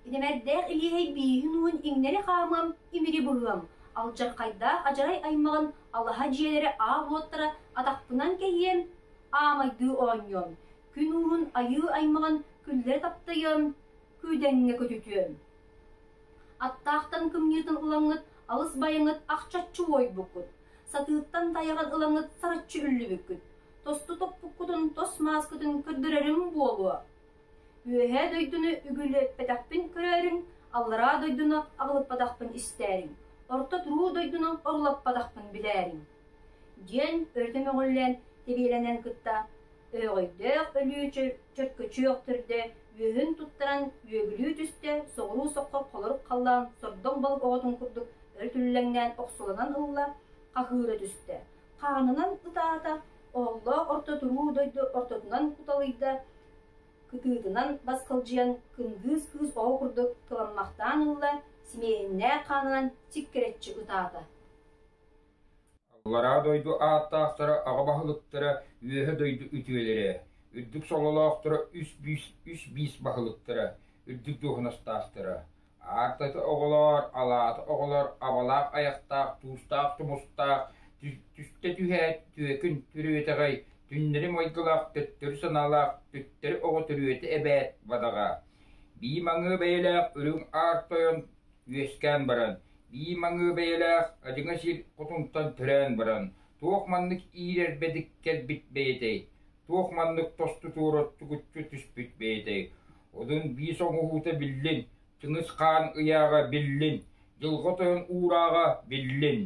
Инэмэрдээх илиэһэй бииһин уун иҥнэри хаамам, имири быһыам, алдьархайдаах адьарай аймаҕын алаһа дьиэлэрэ аам уоттара атахпынан кэһиэм, аамайдыы оонньуом, күн уурун айыы аймаҕын күллэрэ таптайыам, күүдэҥҥэ көтүтүөм. Аттаахтан кымньыытын ылаҥҥыт алыс байаҥыт ахчаччы уойбуккут, сатыыттан тайаҕын ылаҥҥыт сараччы үллүбүккүт, тосту топпуккутун, тос мааскытын көрдөрөрүм буолуо. Үөһээ дойдуну үгүлүөппэтэхпин көрөөрүҥ, аллараа дойдуну абылыппатахпын истээриҥ, орто туруу дойдуну орулаппатахпын билээриҥ» диэн өрүтэ мөҕүллээн тэбиэлэнэн кытта Өөҕөйдөөх өлүү чөркөчүөхтэрдэ үөһүн туттаран үөгүлүү түстэ, соҕуруу соххолорук халлаан сордоҥ балык оҕотун курдук өрүтүллэҥнээн охсуланан ылла, хаһыыра түстэ. Хаанынан ытаата, оһоллоох орто туруу дойду ортотунан куталыйда, кытыытынан басхалдьыйан кынгыыс кыыс оҕо курдук кыламмахтаан ылла, симиэннээх хаанынан сиккирэччи ытаата Аллараа дойду ааттаахтара аҕа баһылыктара Үөһэ дойду үтүөлэрэ, үрдүк сололоохторо үс бүүс үс биис баһылыктара, үрдүк дуоһунастаахтара, аартата оҕолоор, алаата оҕолор абалаах айахтаах туустаах тумустаах түстэ түһээт түөкүн төрүөтэҕэй түннэри майгылаах төттөрү санаалаах төттөрү оҕо төрүөтэ эбээт бадаҕа, бии маҥыы бэйэлээх үрүҥ аар тойон үөскээн баран, бии маҥыы бэйэлээх адьыҥа сир кутунтан төрөөн баран, туох маннык иирэрбэдик кэлбит бэйэтэй, туох маннык тосту туораттыгыччы түспүт бэйэтэй, одун биис оҥоһуута биллин, Чыныыс хаан ыйааҕа биллин, дьылҕа тойон уурааҕа биллин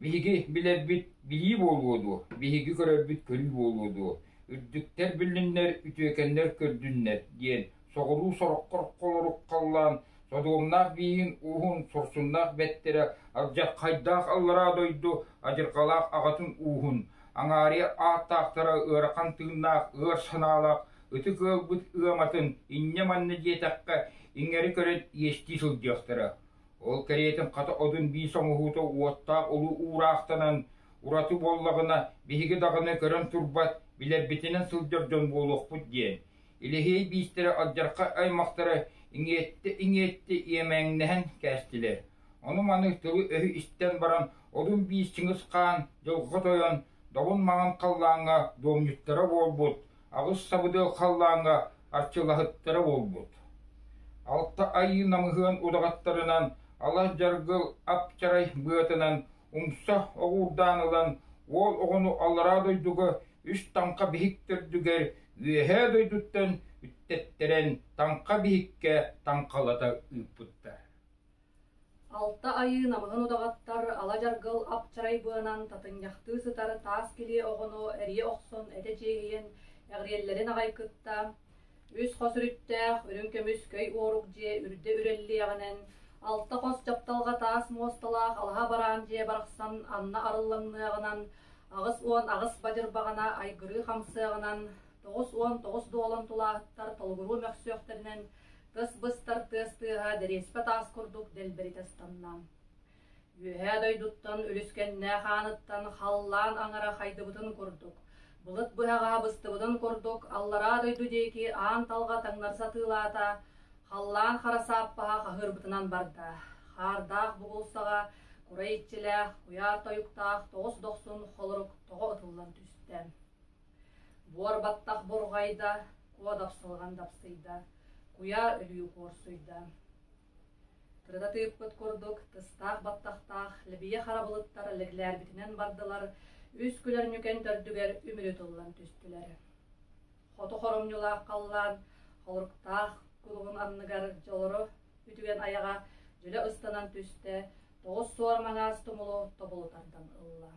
Биһиги билэрбит билии буолуо дуо, биһиги көрөрбүт көрүү буолуо дуо, үрдүктэр билиннэр, үтүөкэннэр көрдүннэр диэн соҕуруу сороххо холорук халлаан Содуомнаах бииһин ууһун сурсуннаах бэттэрэ алдьархайдаах аллараа дойду адьырҕалаах аҕатын ууһун, аҥаарыйа ааттаахтара ыарахан тыыннаах ыар санаалаах ытык ыалбыт ыаматын инньэ-манна диэтэххэ иҥэри көрөн иэстии сылдьыахтара. Ол кэриэтин хата одун биис оҥоһуута уоттаах улуу уураахтанан ураты буоллаҕына, биһиги даҕаны көрөн турбат, билэрбитинэн сылдьар дьон буолуохпут диэн, Илиһиэй биистэрэ алдьархай аймахтара иҥиэтти-иҥиэтти иэмээҥнэһэн кээстилэр. Ону-маны тылы-өһү истэн баран, одун биис Чыҥыс Хаан дьылҕа тойон, долун маҥан халлааҥҥа дуомньуттара буолбут, Аҕыс сабыдыал халлааҥҥа аччылаһыттара буолбут. Алта айыы намыһыан удаҕаттарынан алас дьаргыл апчарай быатынан умса оҕуурдаан ылан уол оҕону аллараа дойдуга үс таҥха биһиктэрдүгэр үөһээ дойдуттан үттэттэрэн таҥха биһиккэ таҥхалата ыыппыттар Алта айыы намыһын удаҕаттар ала-дьаргыл ап-чарай быанан татынньахтыы сытар таас килиэ оҕону эрийэ охсон этэ чиэһийэн эҕириэллэрин аҕай кытта, үс хос үрүттээх үрүҥ көмүс көй уорук дьиэ үрдэ үрэллиэҕинэн алта хос дьапталҕа таас муосталаах алаһа бараан дьиэ барахсан анна арыллаҥныаҕынан аҕыс уон аҕыс бадьырбаҕана айгырыы хамсыаҕынан тоҕус уон тоҕус дуолан тулааһыттар толугуруу мөхсүөхтэринэн Кыс быстар тыас тыаһа дэриэспэ таас курдук дэлбэритэ ыстанна. Үөһээ дойдуттан үлүскэннээх ааныттан халлаан аҥара хайдыбытын курдук, былыт быһаҕаһа быстыбытын курдук аллараа дойду диэки аан талҕа таҥнар сатыылаата, халлаан хара сааппаһа хаһыырбытынан барда. Хаардаах бугулсаҕа курай иччилээх, куйаар тойуктаах тоҕус дохсун холорук тоҕо ытыллан түстэ. Буор баттах бурҕайда, куо дапсылҕан дапсыйда, куйаа өлүү куорсуйда. Кырататыыппыт курдук, тыстаах баттахтаах лэбийэ харабылыттар лэглээрбитинэн бардылар, үс күлэр ньүкэн төрдүгэр үмүрү тыллан түстүлэр. Хоту хоромньулаах халлаан холуруктаах кулугун анныгар дьолору үтүгэн айаҕа дьүлэ ыстанан түстэ, тоҕус суор маҥаас тумулу тобулу тардан ылла.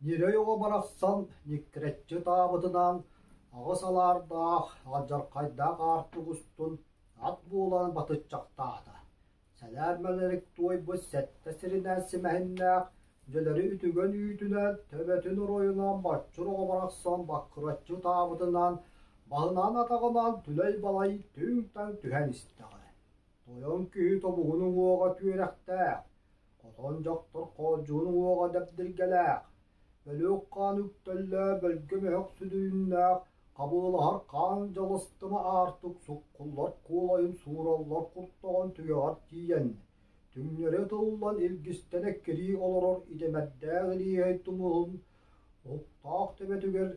Ньирэй оҕо барахсан ньиккирэччи ытаабытынан аҕыс алаардаах алдьархайдаах аартык устун ат буолан батыччахтаата, сэлээн мэлэрик туойбут сэттэ сиринэн симэһиннээх дьөлөрү үтүгэн үүтүнэн төбөтүн оройунан боччур оҕо барахсан баккыраччы ытаабытынан баһынаан атаҕынан түлэй-балай түҥ-таҥ түһэн истэҕэ, тойон киһи тобугун уҥуоҕа түөрэхтээх Хотон дьохтор хооддьугун уоҕа дэбдиргэлээх, өлүөх хаан үктэллээх бөлгө мөһөх сүдүрүннээх хабыылаһар хаан дьалыстыма аартык суккуллар куолайын суураллар куттаҕын түгэҕэр тиийэн, түҥнэри ытыллан илгистэнэ кирии олорор идэмэрдээх илиэһэй тумуһун уһуктаах төбөтүгэр,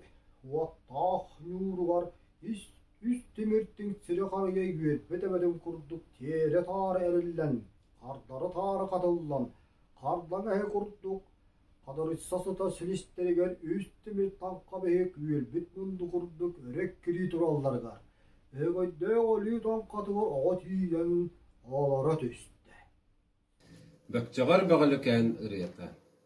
уоттаах ньууругар ис үс тимир тиҥ сири харыйа үөрбүт эбэтин курдук тиэрэ-таара эриллэн, хардары-таары хатыллан, хардан эһи курдук, хадырычса сыта силистэригэр үс тимир таҥха бэһик үөлбүт мунду курдук өрө кирии туралларыгар, өҥөйдөөх өлүү тоҥхатыгар оҕо тиийэн олоро түстэ. Бөкчөҕөр Бөҕөлүкээн ырыата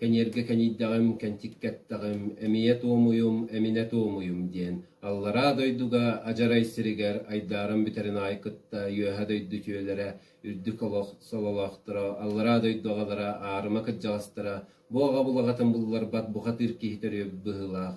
Кэньэргэ кэнийдэҕим, кэнчик кэттэҕим, эмиийэ туомуйум, эминэ туомуйум диэн аллараа дойдуга адьарай сиригэр айдааран бүтэрин аайы кытта үөһэ дойду үтүөлэрэ, үрдүк олох сололоохторо, аллараа дойду аҕалара, аарыма кырдьаҕастара, бу аҕа булаҕатын булларбат бухатыыр киһи төрүөт быһыылаах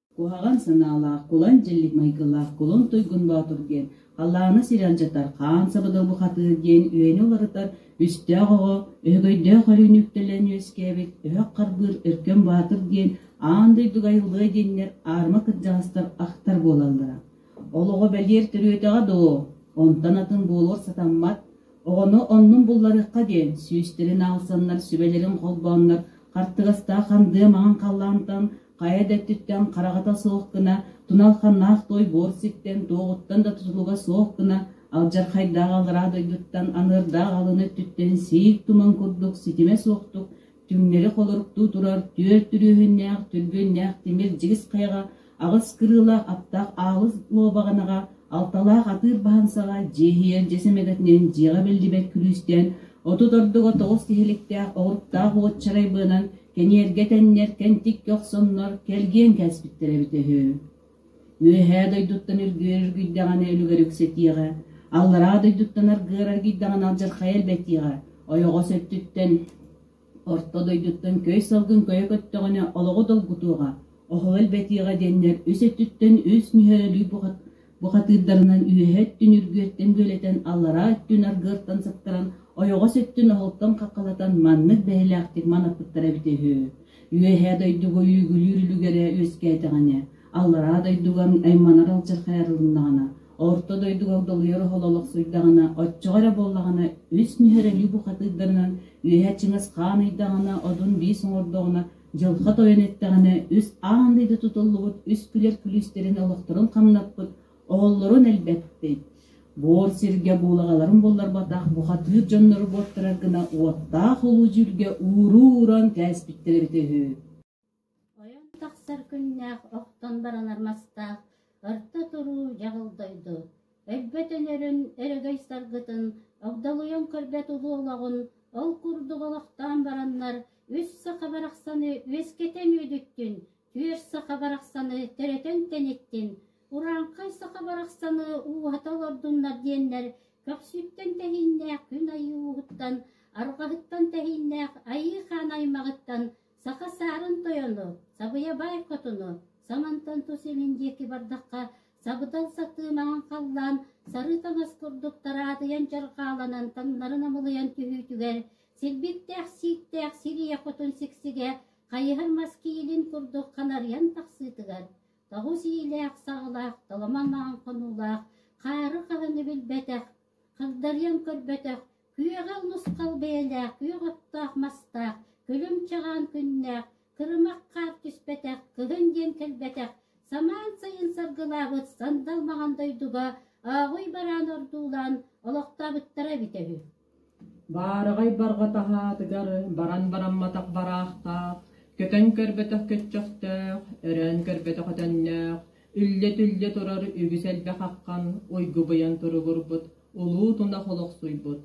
Куһаҕан санаалаах, кулан-дьиллик майгылаах кулун туйгун боотур диэн халлааны сир алдьатар хаан сабыдал бухатыыр диэн үөнү уларытар үстээх оҕо өһөгөйдөөх өрүүнү үктэлэн үөскээбит өһөх харбыыр Өркөн Баатыр диэн аан дойдуга айыллыа диэннэр аарыма кырдьаҕастар ахтар буолаллара. Ол оҕо бэлиэр төрүөтэҕэ доо, онтон атын буолуор сатаммат, оҕону оннун булларыахха диэн сүүстэрин аалсаннар сүбэлэрин холбооннор хартыгастаах хандыа маҥан халлаантан Хайа да өттүттэн хараҕата суох гына, тунал-ханнаах туой буор ситтэн, туоҕуттан да тутулуга суох гына, алдьархайдаах алҕараа дойдуттан аныырдаах алыны өттүттэн сиик туман курдук ситимэ суохтук, түҥнэри холоруктуу турар түөрт түрүөһүннээх түлбүөннээх тимир дьигис хайаҕа аҕыс кырыыла аптаах аалыс луобаҕанаҕа алталаах атыыр баһансаҕа дьиэһийэр дьэ сэмэҕитинэн дьиэҕэ биллибэт күлүүстээн отут ордуга тоҕус тиһиликтээх оҕуруктаах уочарай быанан Кэньиэргэтэннэр кэнтиккэ охсоннор кэргиэн кээспиттэрэ эбитэ үһү. Үөһээ дойдуттан үргүөрэргийдэҕинэ үлүгэр үксэтиэҕэ, аллараа дойдуттан аргыараргийдэҕинэ алдьархайа элбэтиэҕэ, ойоҕос өттүттэн, орто дойдуттан көй салгын көйө көттөҕүнэ олоҕу долгутуоҕа, оһол элбэтиэҕэ диэннэр үс өттүттэн үс нүһэрэлүү Бухатыырдарынан үөһэ өттүн үргүөттэн бүөлэтэн, аллараа өттүн аргыаттан сыптаран, ойоҕос өттүн оһолтон хаххалатан маннык бэһилээхтик манаппыттара эбитэ үһү. Үөһээ дойдуга үүгүлүүр үлүгэрэ үөскээтэҕинэ, аллараа дойдуга айманар алчархайарылыннаҕына, орто дойдуга долуйар оһол олохсуйдаҕына, оччоҕо эрэ буоллаҕына, үс нүһэрэлии бухатыырдарынан үөһэ чыҥыс хаан ыйдаҕына, одун биис оҥордоҕуна, Дьылҕа Тойон эттэҕинэ үс аан дойду тутуллубут үс күлэр күлүүстэрин олохторун хамнаппыт, оҕолорун элбэппит. Буор сиргэ буулаҕаларын булларбатах бухатыыр дьоннору буоттарар гына уоттаах улуу дьүүлгэ ууру-ууран кээспиттэр эбитэ үһү. Ойон тахсар күннээх охтон баранар мастаах, орто туруу дьаҕыл дойду, Эбэтэнэрин эрэгэй-саргытын огдолуйан көрбөт уһуолаҕын ол курдук олохтоон бараннар үс саха барахсаны үөскэтэн үүтүттүн, түөрт саха барахсаны төрөтөн тэниттин, урааҥхай саха барахсаны ууһата олордуннар диэннэр көхсүттэн тэһииннээх күн айыы ууһуттан, арҕаһыттан тэһииннээх айыы хаан аймаҕыттан Саха саарын тойону, сабыйа баай хотуну Самантан тус илин диэки бардахха, сабыдал сатыы маҥан халлаан сарыы таҥас курдук тараадыйан дьарҕааланан таҥнарын амылыйан түһүүтүгэр, силбиктээх-сииктээх сир ийэ хотун сиксигэ хайыһар мас киилин курдук ханарыйан тахсыытыгар, тоҕус иилээх-саҕалаах, толомо маҥан хонуулаах, хаары хаһыны билбэтэх, хагдарыйан көрбөтөх Күөҕү нусхал бэйэлээх, күөх оттоох-мастаах, күлүм-чаҕаан күннээх, кырымах хаар түспэтэх, кыһын диэн кэлбэтэх, самаан сайын саргылаабыт сандал маҥан дойдуга ааҕый бараан ордуулаан олохтообуттара эбитэ үһү баараҕай барҕатаһаатыгар баран барамматах бараахтаах, көтөн көрбөтөх көччөхтөөх, өрөөн көрбөтөх өтөннөөх, үллэ-түллэ турар үгүс элбэх аххан уйгубуйан туругурбут Улуу тунах олохсуйбут,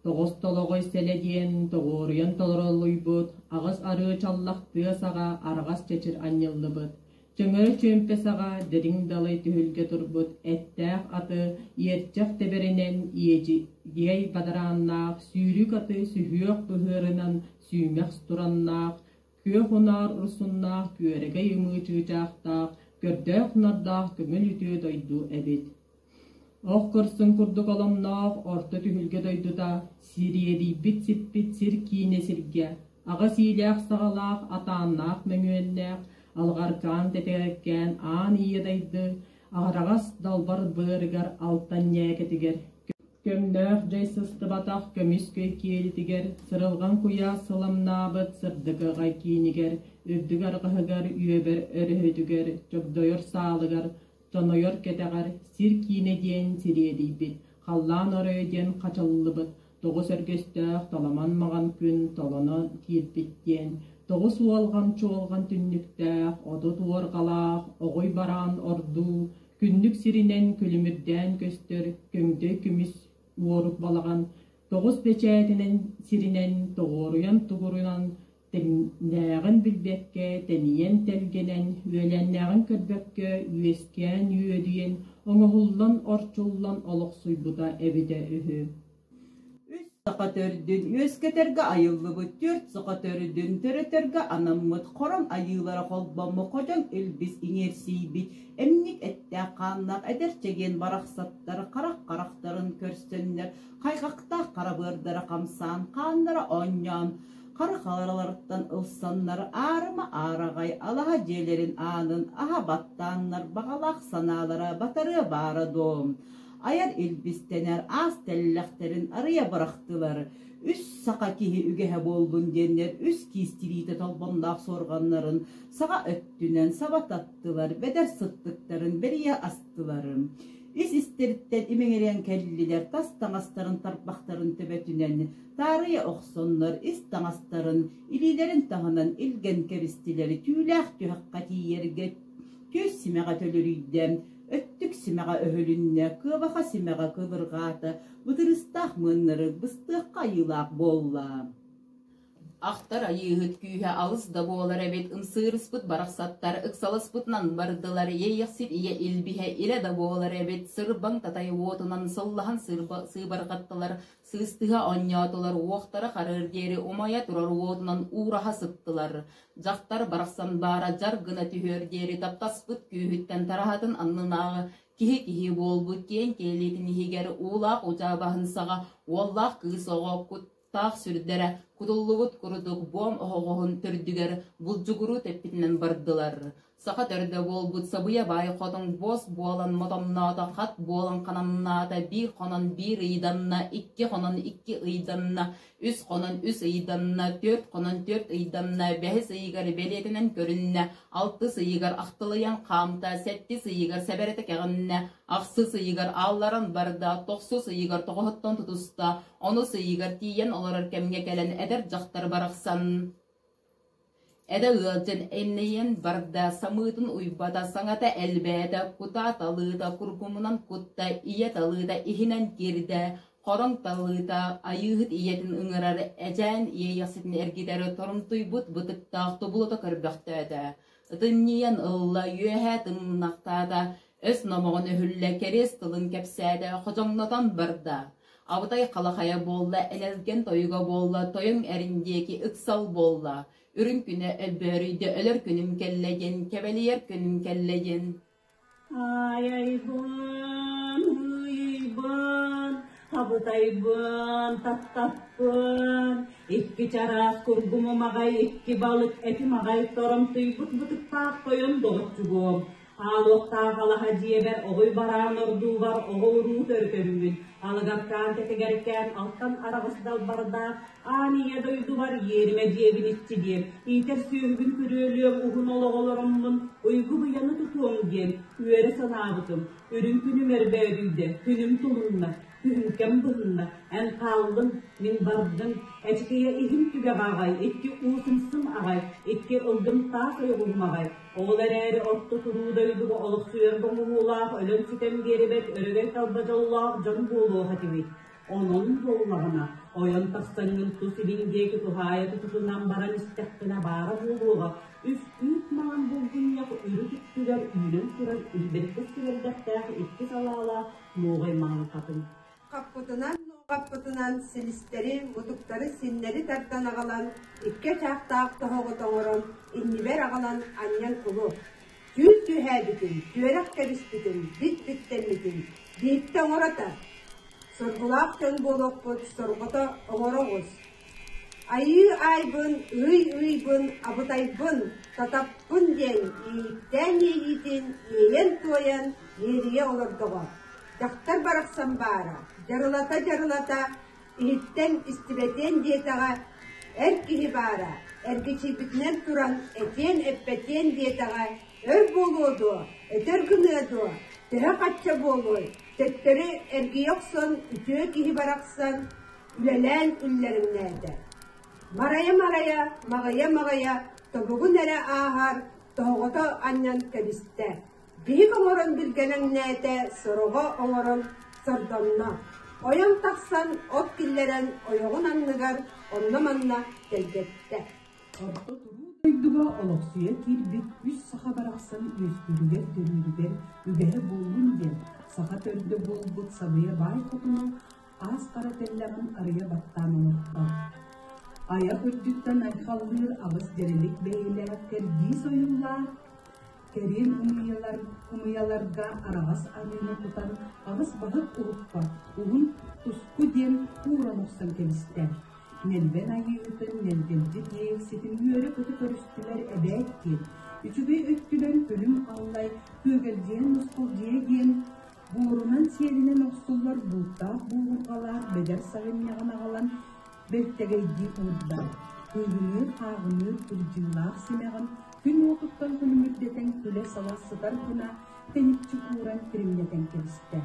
тоҕостолоҕой сэлэ диэн тоҕуоруйан толороллуйбут аҕыс арыы чаллах тыа саҕа араҕас чэчир анньыллыбыт, чөҥөө чүөмпэ саҕа дириҥ далай түһүлгэ турбут эттээх аты иэрчэх тэбэринэн иэдьигиэй бадарааннаах сүүрүк аты сүһүөх быһыарынан сүүмэхс тураннаах, күөх унаар урсуннаах күөрэгэй ымыы чыычаахтаах, көрдөөх-нардаах көҥүл үтүө дойду эбит Ох көрсөн курдук оломноох орто түһүлгэ дойдута сириэдийбит сиппит сир киинэ сиргэ аҕыс иилээх-саҕалаах атааннаах мөҥүөннээх алҕаркаан тэтигэккээн аан ийэ дайды аҕараҕас далбар быарыгар алтан ньээкэтигэр көҥнөөх дьай сыстыбатах көмүскүй киэлитигэр сырылҕан куйаас сыламнаабыт сырдыгы аҕай киинигэр үрдүк арҕаһыгар үөбэр өрүһүтүгэр чогдойор саалыгар Сонойор кэтэҕэр Сир киинэ диэн сириэдийбит, Халлаан оройо диэн хачыллыбыт, Тоҕус өргөстөөх таламан маҕан күн толонон киирбит диэн тоҕус уолҕам чуолҕан түннүктээх отут уорҕалаах оҕуй бараан ордуу күннүк сиринэн күлүмүрдээн көстөр көмдөй күмүс уорук балаҕан тоҕус бэчээтинэн сиринэн тоҕуоруйан-тугуруйан Тэҥнээҕин билбэккэ, тэнийэн тэлгэнэн, үөлээннээҕин көрбөккө үөскээн үөдүйэн, оҥоһуллан орчуллан олохсуйбута эбитэ үһү үс саха төрдүн үөскэтэргэ айыллыбыт түөрт саха төрдүн төрөтөргө анаммыт Хороҥ Айыылара холбоммут хотон илбис иҥиэрсийбит эмньик эттээх-хааннаах эдэр чэгиэн барахсаттар харах харахтарын көрсөннөр хайҕахтаах харабыардара хамсаан хааннара оонньоон хара хаҥараларыттан ылсаннар аарыма аараҕай алаһа дьиэлэрин аанын аһа баттааннар баҕалаах санаалара батарыа баара дуо айар илбистэнэр аас тэллэхтэрин арыйа бырахтылар үс саха киһи үгэһэ буоллун диэннэр үс киистириитэ толбонноох суорҕаннарын саҕа өттүнэн саба таттылар бэдэр сыттыктарын бэрийэ астылар ис истэриттэн имэҥирийэн кэллилэр тас таҥастарын тарбахтарын төбөтүнэн таарыйа охсоннор ис таҥастарын, илиилэрин таһынан илгэн кэбистилэри түүлээх түһэххэ тиийэргэ түөс симэҕэ төлөрүйдэ, өттүк симэҕэ өһүлүннэ, кыабаха симэҕэ кыбырҕаата, бытырыстаах мыыннары быстыахха айыылаах буолла. Ахтар айыыһыт күүһэ алыс да буолар эбит, ымсыырыспыт барахсаттар ыксаласпытынан бардылар, иэйэхсит ийэ илбиһэ илэ да буолар эбит, сырбаҥ татай уотунан сыллаһан сыыбарҕаттылар, Сыыстыһа оонньоотулар уохтара харыар диэри умайа турар уотунан уураһа сыттылар. Дьахтар барахсан баара дьар гына түһүөр диэри таптаспыт күүһүттэн тараһатын аннынааҕы киһи-киһи буолбут киэҥ киэлитин иһигэр уулаах удьаа баһын саҕа уоллаах кыыс оҕо куттаах сүрдэрэ кутуллубут курдук буом оһоҕоһун төрдүгэр булдьугуруу тэппитинэн бардылар. Саха төрдө буолбут Сабыйа баай хотун босс буолан мотомноото, хат буолан хананнаата, биир хонон биир ыйданна, икки хонон икки ыйданна, үс хонон үс ыйданна, түөрт хонон түөрт ыйданна, бэһис ыйыгар бэлиэтэнэн көрүннэ, алтыс ыйыгар ахтылыйан хаамта, сэттис ыйыгар сэбэрэтэ кэҕиннэ, ахсыс ыйыгар аалларан барда, тохсус ыйыгар тоҕоһоттон тутуста, онус ыйыгар тиийэн олорор кэмҥэ кэлэн эдэр дьахтар барахсан, Этэ ыалдьан энньэйэн барда, самыытын уйбата, саҥата элбээтэ, кутаа талыыта кургумунан кутта, ийэ талыыта иһинэн киирдэ, хороҥ талыыта айыыһыт ийэтин ыҥырар эчээн иэйэхситин эргитэр торумтуйбут бытыктаах тобулута көрбөхтөөтө, ытынньыйан ылла, үөһэ тыҥнахтаата, өс номоҕо нөһүллэ кэриэс тылын кэпсээтэ хозоҥнотон барда абытай халахайа буолла элэлгэн тойуга буолла тойуҥ эрин диэки ыксал буолла үрүҥ күнэ өлбөөрүйдэ өлөр күнүм кэллэ диэн кэбэлийэр күнүм кэллэ диэн аайайбан ууйуйбан абытайбан таттаппын икки чараас кургум умаҕай икки балык этим аҕай торомтуйбут бытыктаах тойон доҕоччу буол Хаалыахтаах алаһа дьиэбэр оҕуй бараан ордуубар оҕо-уруу төрөтөбүмүн, алыгартаан тэтигэркээн алтан араҕыс далбардаах аан ийэ дойдубар иэримэ дьиэбин иччилиэм, иитэр сүөһүбүн күрүөлүөм уһун олоҕолороммун уйгу-быйаны тутуом диэн үөрэ санаабытым, үрүҥ күнүм эрбөөдүйдэ, күнүм тулунна. Күүмкэм быһынна, эн хааллыҥ, мин бардым. Эчикийэ иһим түгэх аҕай, икки уусумсум аҕай, икки ылгым таас ойоҕуһум аҕай. Ол эрээри орто туруу дойдуга олохсуйар бомоһуулаах өлөн-сүтэн биэрибэт өрөгөй талба дьоллоох дьон буолуох этибит. Онон буоллаҕына, ойон тахсаҥҥын тус илиҥ диэки туһаайа тутутунан баран истэхпинэ баара буолуоҕа, үс үүт маан булгунньах үрүт үттүгэр үүнэн турар илбиркис сүрэлдэхтээх икки салаалаах муоҕай маҥантатын. Хаппытынан-нуоҕаппытынан силистэри, мутуктары синнэри тардан аҕалан, икки очаахтаах тоһоҕу тоҥорон, иннибэр аҕалан анньан улу. Түүл түһээбитин, түөрэх кэбиспитин, бит биттэммитин, бииртэ оҥорото. Соргулаах дьон буолуохпут, сорҕото оҥоро оҕус, Айыы аайбын, ый-ыйбын, абытайбын, татаппын диэн иэйиэхтээн иэйиитин иэйэн-туойан иэрийэ олордоҕо. Дьахтар барахсан баара, дьарылата-дьарылата, иһиттэн истибэтиэн диэтэҕэ, эр киһи баара, эргичийбитинэн туран этиэн-эппэтиэн диэтэҕэ, өр буолуо дуо, өтөр гыныа дуо, төһө-хачча буолуой, төттөрү эргийэ охсон үтүө киһи барахсан, үлэлээн иллэримнээтэ. Марайа-марайа, маҕайа-маҕайа тобугун эрэ ааһар тоһоҕото анньан кэбистэ. Биһик оҥорон билгэлэҥнээтэ, сороҕо оҥорон сордонно. Ойон тахсан от киллэрэн ойоҕун анныгар онно-манна тэлгэттэ. Орто туруу дойдуга олохсуйан киирбит үс саха барахсан үөскүүрүгэр-төрүүрүгэр үбэһэ буоллун диэн саха төрдө буолбут Сабыйа баай хотуна аас-хара тэллэҕин арыйа баттаан оҥорто. Айах үрдүттэн айхаллыыр аҕыс дьэрэлик бэйэлээх кэрдиис ойуулаах кэриэн умуйалар, умуйаларга араҕас аныыны тутан аҕыс баһык уһукпат уһун туску диэн ууран охсон кэбистэ. Нэлбэн айыытын нэлбэлдьи диэх ситим үөрэ-көтө көрүстүлэр эбээт диэн, үчүгэй өттүлэр күлүм аллай күөгэлдьиэн мускулдьыйа диэн Буурунан сиэлинэн охсуллар бууттаах буурулҕалаах бэдэр сайынньаҕын аҕалан бэртэгэйдии уурдар, кыыгыныыр-хааҕыныыр кырдьыылаах симэҕин күн уотуттан күлүмүрдэтэн күлэ-сала сытар гына тэниччи кууран кириҥнэтэн кэбистэ.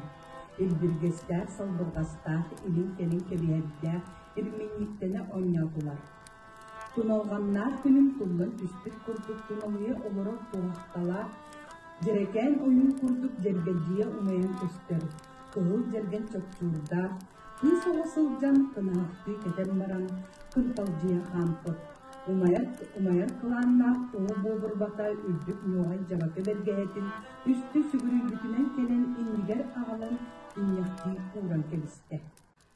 Илбиргэстээх-салбырҕастаах, илин-кэлин кэбиһэрдээх ирминньиктэнэ оонньоотулар. Туналҕаннаах күнүм туллан түспүт курдук туналыйа олорор туоһахталаах, дьэрэкээн ойуун курдук дьэрбэдьийэ умайан көстөр, кыһыл дьэргэн чоччуурдаах, кыыс оҕо сылдьан кынаһахтыы кэтэн баран кынталдьыйа хаампыт, умайар кылааннаах уҥа буобурбата үрдүк ньуоҕай дьабакы бэргэһэтин үстэ сүгүрүйбүтүнэн кэлэн иннигэр аҕалан инньэхтии кууран кэбистэ.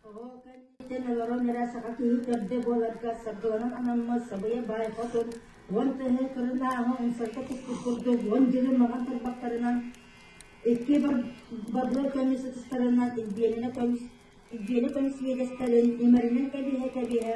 Оҕо кэнниттэн олорон эрэ саха киһи төрдө буоларга саргыланан анаммыт сабыйа баай хотун уон тыһы кырынааҕы умсарга туппут курдук уон дьылы маҕан тарбахтарынан икки бабло көмүс ытыстарынан илбиэнэ көмүс илбиэнэ көмүс свидетелин имэринэн кэбиһэ-кэбиһэ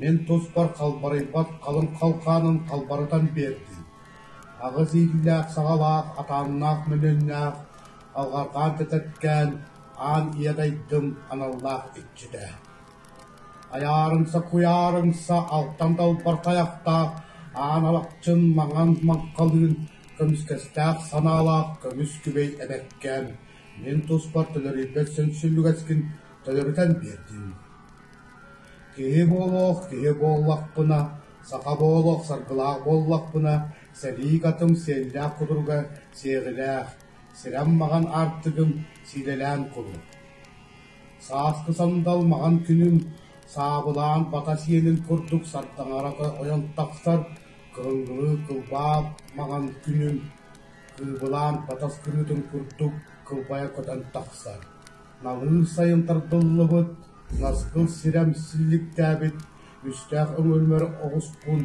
Мин туспар халбарыйбат халыҥ халхаанын халбарытан биэрдим, аҕыс иитиилээх саҕалаах атааннаах мөлүөннээх алҕарҕаан тэтэркээн аан иэдэйдым аналлаах иччитэ, айаарымса куйаарымса алтан далбар тайахтаах аан алахчын маҥан маҥхалыын көмүскэстээх санаалаах көмүс күбэй эбэккээн мин туспар төлөрүйбэт сөмсүлүгэскин төлөрүтэн биэрдим Киһи буолуох киһи буоллахпына, саха буолуох саргылаах буоллахпына, сэрии катым сиэллээх-кудурга сиэҕилээх, сирэм-маҕан аартыгым сиилэлээн кулун. Сааскы сандал маҥан күнүн саабылаан бата сиэлин курдук сардаҥарата ойон тахсар кырыҥгылыы кылбаах маҥан күнүн кыыбылаан батас кырыытын курдук кылбайа көтөн тахсар Намыын сайын тардыллыбыт, наскыл сирэм силликтээбит үстээх өҥөлмөр оҕускун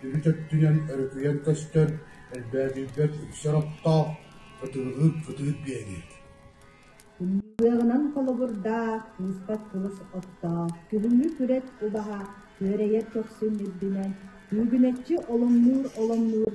үрүт өттүнэн өрүкүйэн көстөр, элбээтийбэт үксэр оттоох, ытылыгы кытыыр биэри. Умнугыаҕынан холобурдаа, кууспат кылыс оттоох, күһүҥҥү күрэт убаһа, күөрэйэр көхсүн үрдүнэн, түүгүнэччи оломнуур-оломнуур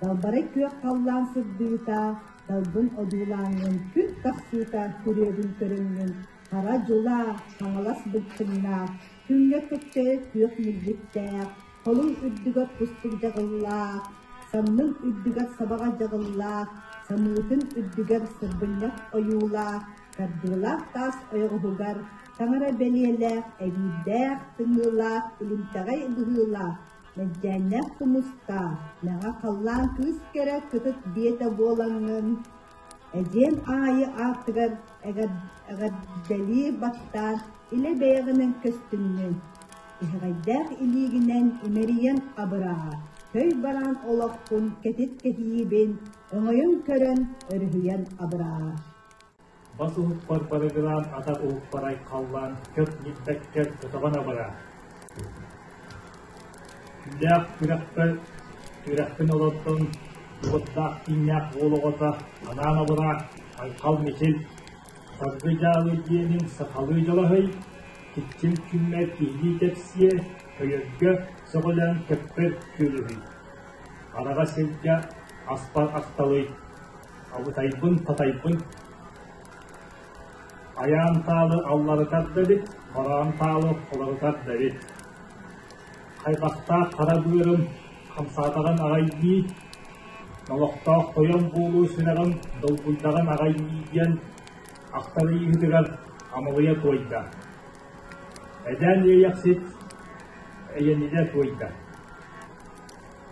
Далбарай күөх халлаан сырдыыта, далбын одуулааһынын күн тахсыыта күрүөбүн көрөммүн, хара дьулаа, хаҥалас былчыҥнаах, күҥҥэ кэккэ күөх милдьиттээх, холуҥ үрдүгэр кустук дьаҕыллаах, самнын үрдүгэр сабаҕа дьаҕыллаах, самыытын үрдүгэр сырбынньах ойуулаах, кардыылаах таас ойоҕоһугар таҥара бэлиэлээх, эбиирдээх, тымыылаах, илимтэҕэй быһыылаах, Мэлдьээннээх Тумустаа, мэҥэ халлаан кыыс кэрэ кытыт биэтэ буолаҥҥын, эдьиэм аайы аартыгар эҕэрдэлии баттаан илэ бэйэҕинэн көстүҥҥүн, тиһэҕэйдээх илиигинэн имэрийэн абыраҕа, көй бараан олоххун кэтит кэһиибин өҥөйөн көрөн өрүһүйэн абыраҕа Бас уһукпар барыгылаан атах уһукпарай халлаан көк ньиппэккэр көтөҕөн абыраа. Күндээх күрэхпэр күрэхпин олордон уоттаах кииннээх уол оҕото анаан абыраа Айхал Мичил Саргы дьаалы диэниҥ сахалыы дьалаһый киччим күммэр киһилии кэпсиэ өйөргө сөҕүлээн кэппэр күөлүһүй хараҕа сиргэ аспар асталый Абытайбын-сатайбын Айаан таалы алларытар да эбит, бараан таалы оларытар да эбит. Хайбахтаах хара быарым хамсаатаҕын аҕайдии, олохтоох тойон буолуу сүрэҕим долгуйдаҕын аҕайдii диэн ахтарыйыытыгар амалыйа туойда. Эдээн иэйэхсит эйэнидэ туойда.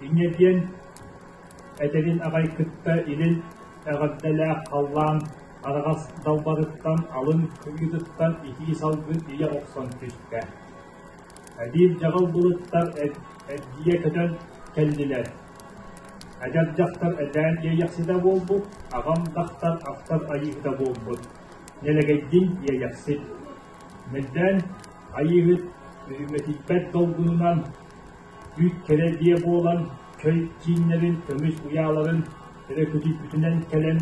Инньэ диэн эдэрин аҕай кытта илин эҕэрдэлээх халлаан араҕас далбарыттан алын кыйыытыттан итии салгыы ийэ охсон түстэ. Эдиир дьаҕал былыттар эргийэ көтөн кэллилэр. Эдэр дьахтар этээн иэйэхситэ буолбут, аҕам дахтар ахтар айыыһыта буолбут. Нэлэгэйдин иэйэхсит. Мэлдээн айыыһыт үрүмэтийбэт долгунунан Үүт кэрэ дьиэ буолан, көй кииннэрин, көмүс уйааларын эрэ күтүйбүтүнэн кэлэн,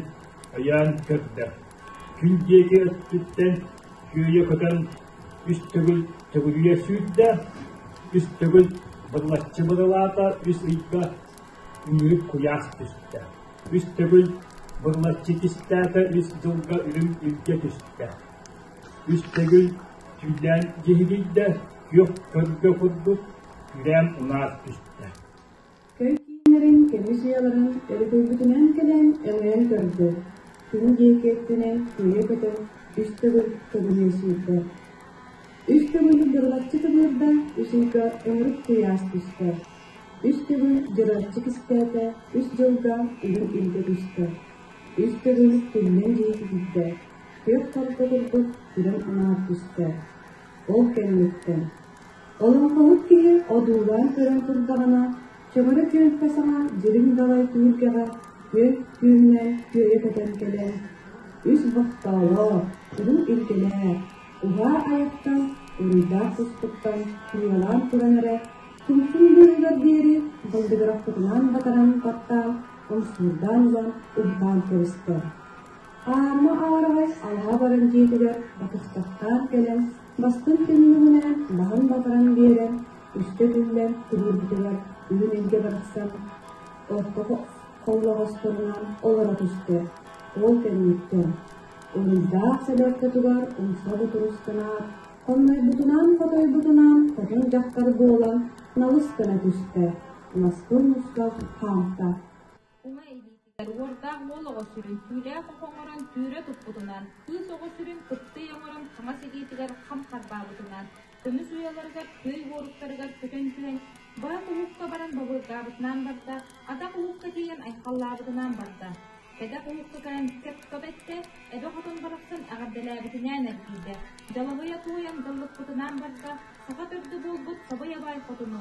өйөөн көрдө. Күн диэки өттүттэн күөйэ көтөн, үс төгүл төгүрүйэ сүүрдэ, үс төгүл бырлаччы бырылаата, үс ыйга үмүрүк куйаас түстэ. Үс төгүл бырлаччы кистээтэ, үс дьылга үрүм үлгэ түстэ. Үс төгүл түүлээн дьиһигийдэ, күөх көргө курдук, күрээн унаас түстэ Кэй кииннэрин кэмисийаларын өрүкүйбүтүнэн кэлэн өҥөйөн көрдө. Күн диэки өттүнэ күөлү көтөн үс төгүл төгүлү сүүрдэ. Үс төгүл дьырылаччы тыбыырда, үсүйгэ өҥүрүк куйаас түстэ. Үс төгүл дьыраччы кистээтэ, үс дьылга үгүн илгэ түстэ. Үс төгүл күннэн диэки киирдэ. Күөх хардыгын от күрэн анаан түстэ. Ол кэнниттэн олоҥхоһут киһи одуулаан көрөн турдаҕына, чөҥөрө түөлбэ саҥа дириҥ далай түһүлгэҕэ күөл түөһүнэн күөйэ көтөн кэлэн, үс бохтоолоо, куруук илгинээр, уһаа айаттан, уруйдаах туспуттан ньыалаан туран эрэ, тумтум быыһыгар диэри балдыгырахпытынаан батаран баттаан, умсуурдаан ылан, урдаан кэбистэ. Аамма аҕараҕас арҕаа баран дьиэтигэр батыстахтаан кэлэн, бастыҥ түннүгүнэн маһын батаран биэрэн, үстэ түллэн тириэрбитигэр үүн илгэ барахсан отто холлоҕосторунан олоро түстэ. Ол кэнниттэн уруйдаах сэлэркэтугар умса бутурустанаат, хоннойбутунаан-хотойбутунаан хотун дьахтар буолан налыс гына түстэ. Ласкын мустах хаамта. Уҥа илиитин уордаах уол оҕо сүрүн түүлээх оҕо оҥорон түүрэ туппутунан, кыыс оҕо сүрүн кыптый оҥорон хаҥас илиитигэр хам харбаабытынан, көмүс уйаларыгар күөй уоруктарыгар көтөн түһэн, баат уһукка баран бобурдаабытынан барда, атах уһукка тиийэн айхаллаабытынан барда. Кэтэх уһукка кэлэн кэп-көп эттэ, эбэ хотон барахсан эҕэрдэлээбитинээн эргийдэ. Далаһыйа туойан даллыкпытынаан барда, саха төрдө буолбут сабый абай хотуну,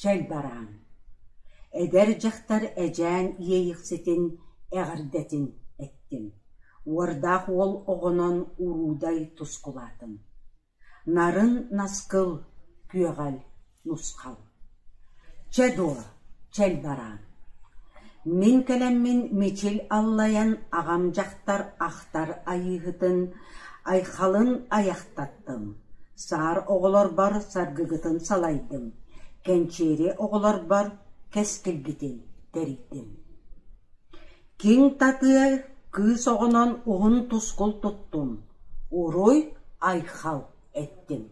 чөл бараан Эдэр дьахтар эдьээн иэйэхситин эҕэрдэтин эттим Уордаах уол оҕонон уруудай тускулаатым Нарын наскыл күөҕэл нусхал Чэ дуо, чөл бараан Мин кэлэммин Мичил аллайан аҕам дьахтар ахтар айыыһытын Айхалын айахтаттым, саар оҕолорбор саргыгытын салайдым, кэнчээри оҕолорбор кэскилгитин тэрийдим Киҥ татыа кыыс оҕонон уһун тускул туттум, уруй айхал эттим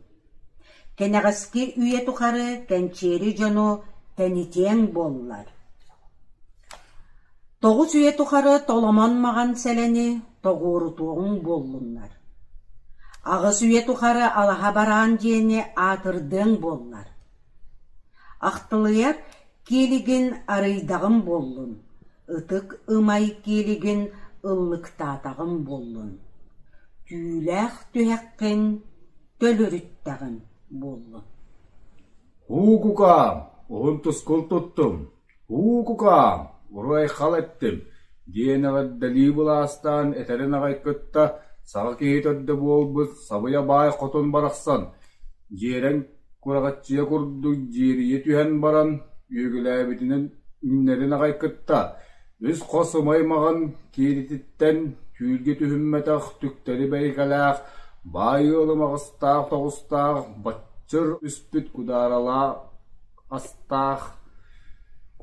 Кэнэҕэски үйэ тухары кэнчээри дьону тэнитиэҥ буоллар Тоҕус үйэ тухары Толомон маҕан сэлэни тоҕуорутуоҕуҥ буоллуннар, аҕыс үйэ тухары алаһа бараан диэни аатырдыаҥ буоллар, ахтылыйар киэлигин арыйдаҕым буоллун, ытык ымай киэлигин ыллыктаатаҕым буоллун, түүлээх түһэххин төлүрүттэҕим буоллун» – «Һуу, кукаам, уһун тускул туттум» «Һуу, кукаам, уруйхал эттим» диэн эҕэрдэлии былаастаан этэрин аҕай кытта саҕа киһи төрдө буолбут Сабыйа Баай хотун барахсан дьиэрэн кураҕаччыйа курдук дьиэрийэ түһэн баран үөгүлээбитинэн үүнэрин аҕай кытта үс-хос ымай маҕан киирититтэн түүлгэ түһүммэтэх түктэри бэйикэлээх баай ыалы маҕастаах тоҕустаах баччыр үспүт кудааралаа Астаах,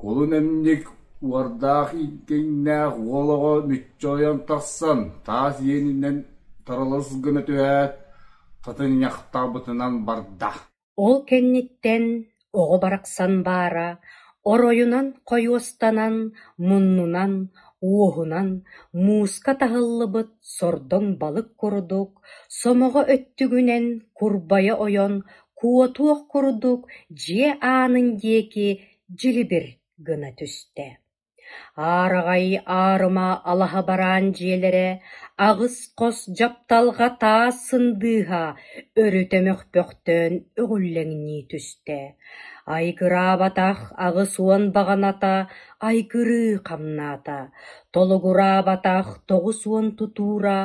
кулун эмньик уордаах ииккэҥнээх уол оҕо мүччү ойон тахсан, таас иэнинэн таралыс гына түһээт, тытынньахтаабытынан барда Ол кэнниттэн оҕо барахсан баара оройунан хойуостанан, муннунан, уоһунан мууска таһыллыбыт сордоҥ балык курдук, сомоҕо өттүгүнэн курбайа ойон куотуох курдук дьиэ аанын диэки дьилибир гына түстэ, аараҕай аарыма алаһа бараан дьиэлэрэ аҕыс хос дьапталҕа таас сындыыһа өрүтэ мөхпөхтөөн өҕүллэҥнии түстэ, айгыраабатах аҕыс уон баҕаната айгырыы хамнаата, толугураабатах тоҕус уон тутуура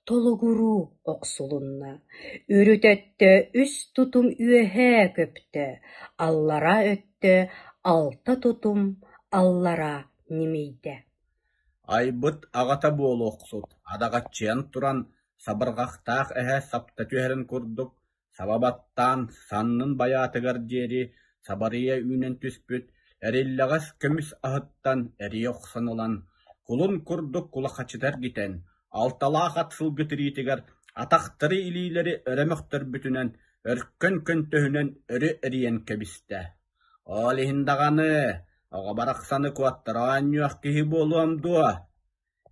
Толугуруу охсулунна, үрүт өттө үс тутум үөһээ көптө, аллараа өттө алта тутум аллараа ньимийдэ Айбыт аҕата буолуохсут адаҕаччыйан туран сабырҕахтаах эһэ сапта түһэрин курдук Саба баттаан саннын байаатыгар диэри сабарыйа үүнэн түспүт эриллэҕэс көмүс аһыттан эрийэ охсон ылан, кулун курдук кулахачыта эргитэн, алталаах ат сылгы тириитигэр атахтары илиилэри өрө мөхтөрбүтүнэн, өркөн көнтөһүнэн өрө эрийэн кэбистэ. «Ол иһин даҕаны, оҕо барахсаны куоттара оонньуох киһи буолуом дуо?»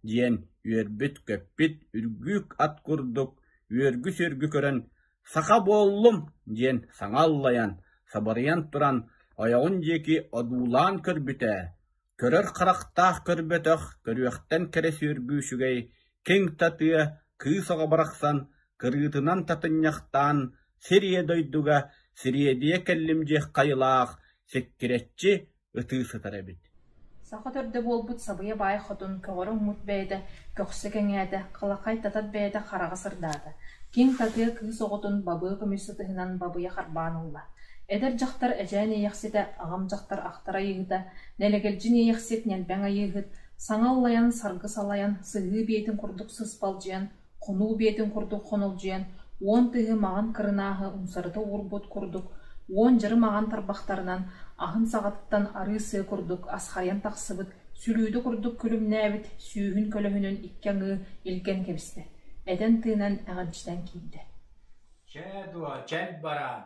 диэн үөрбүт-көппүт үргүүк ат курдук үөргү-сүөргү көрөн «Саха буоллум!» диэн саҥа аллайан, сабарыйан туран ойоҕун диэки одуулаан көрбүтэ, көрөр харахтаах көрбөтөх, көрүөхтэн кэрэ сүөргүү үчүгэй, киҥ татыа кыыс оҕо барахсан кырыытынан татынньахтаан сир ийэ дойдуга сириэдийэ кэллим диэх хайылаах сиккирэччи ытыы сытар эбит Саха төрдө буолбут Сабыйа Баай Хотун көҕөрө уҥмут бэйэтэ көхсө кэҥээтэ, халаххай татар бэйэтэ хараҕа сырдаата, киҥ татыа кыыс оҕотун бабыы көмүс сытыһынан бабыйа харбаан ылла. Эдэр дьахтар эчээн иэйэхситэ, аҕам дьахтар ахтар айыыһыта, нэлэгэлдьин иэйэхсит, ньэлбэҥ айыыһыт, саҥа ыллайан, саргы салайан, сыһыы биэтин курдук сыспалдьыйан, хонуу биэтин курдук хонолдьуйан, уон тыһы маҕан кырынааһы умсарыта уурбут курдук, уон дьары маҕан тарбахтарынан аһын саҕатыттан арыы сыа курдук асхайан тахсыбыт, сүлүүдэ курдук күлүмнээбит сүүһүн көлөһүнүн икки аҥыы илгэн кэбистэ, этэн-тыынан эҕэрдьитэн киирдэ: «Чэ дуо, чэб бараан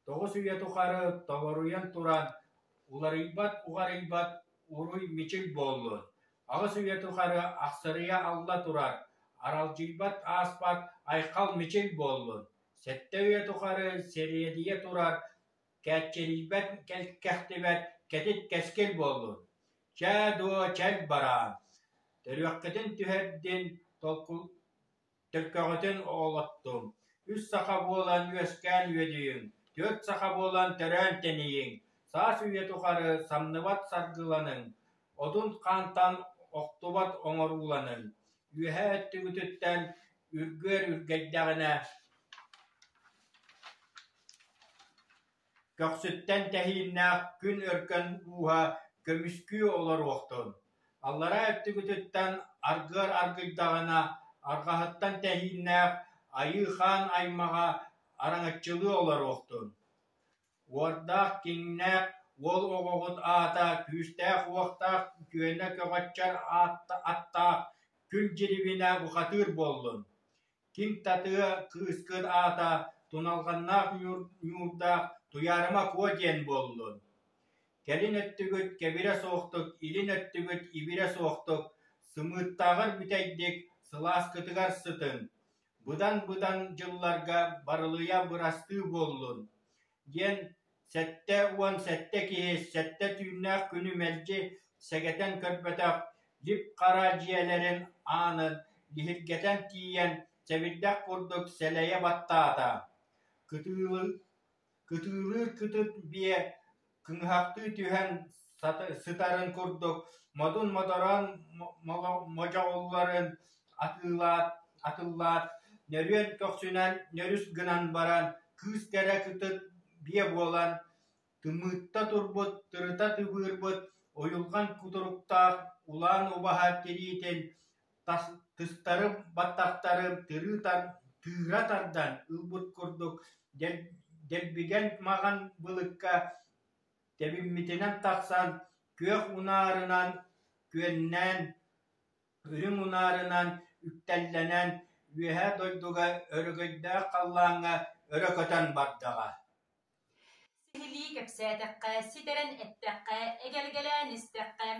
тоҕус үйэ тухары толоруйан туран уларыйбат уҕарыйбат уруй-мичил буоллун, аҕыс үйэ тухары ахсарыйа алла турар аралдьыйбат ааспат айхал-мичил буоллун, сэттэ үйэ тухары сэриэдийэ турар кээччирийбэт кэккэхтибэт кэтит-кэскил буоллун, чэ дуо чэл бараан, төрүөххүтүн түһэрдин толку Төккөҕүтүн оҕолоттуҥ, үс саха буолан үөскээн үөдүйүҥ, түөрт саха буолан төрөөн тэнийиҥ, саас үйэ тухары самныбат саргыланыҥ, отун хаантан охтубат оҥорууланыҥ, үөһэ өттүгүтүттэн үргүөр үргэйдэҕинэ Көхсүттэн тэһииннээх күн өркөн ууһа көмүскүү олоруохтун, аллараа өттүгүтүттэн аргыар аргыйдаҕына, арҕаһыттан тэһииннээх Айыы Хаан аймаҕа араҥаччылыы олоруохтун. Уордаах, киҥнээх уол оҕоҕут аата күүстээх-уохтаах үтүөнэ көҕөччөр аатта аттаах күл дьирибинэ бухатыыр буоллун! Ким татыа, кыыскыт аата Туналҕаннаах Ньуурдаах Туйаарыма Куо диэн буоллун? Кэлин өттүгүт кэбирэ суохтук, илин өттүгүт ибирэ суохтук, сымыыттааҕар бүтэйдик сылааскытыгар сытыҥ, быдан-быдан дьылларга барылыйа бырастыы буоллун! диэн сэттэ уон сэттэ киһи сэттэ түүннээх күнү мэлдьи сэгэтэн көрбөтөх лип-хара дьиэлэрин аанын лиһиргэтэн тиийэн сэбирдэх курдук сэлэйэ баттаата кытыылыыр кытыытык биэ кыҥыһахтыы түһэн сытарын курдук модун модорон модьоҕулларын атыылаат атыллаат нөрүөн көхсүнэн нөрүс гынан баран кыыс кэрэ кытыт биэ буолан тымыытта турбут тырыта тыбыырбыт ойулҕан кутуруктаах улаан убаһа тириитин тыстарым баттахтарым тыыра тардан ылбыт курдук дэлбигэн маҕан былыкка тэбиммитинэн тахсан, күөх унаарынан күөннээн, үрүҥ унаарынан үктэллэнэн, үөһэ дойдуга өрөгөйдөөх халлааҥҥа өрө көтөн бардаҕа Сиһилии кэпсээтэххэ, ситэрэн эттэххэ, эгэлгэлээн истэххэ,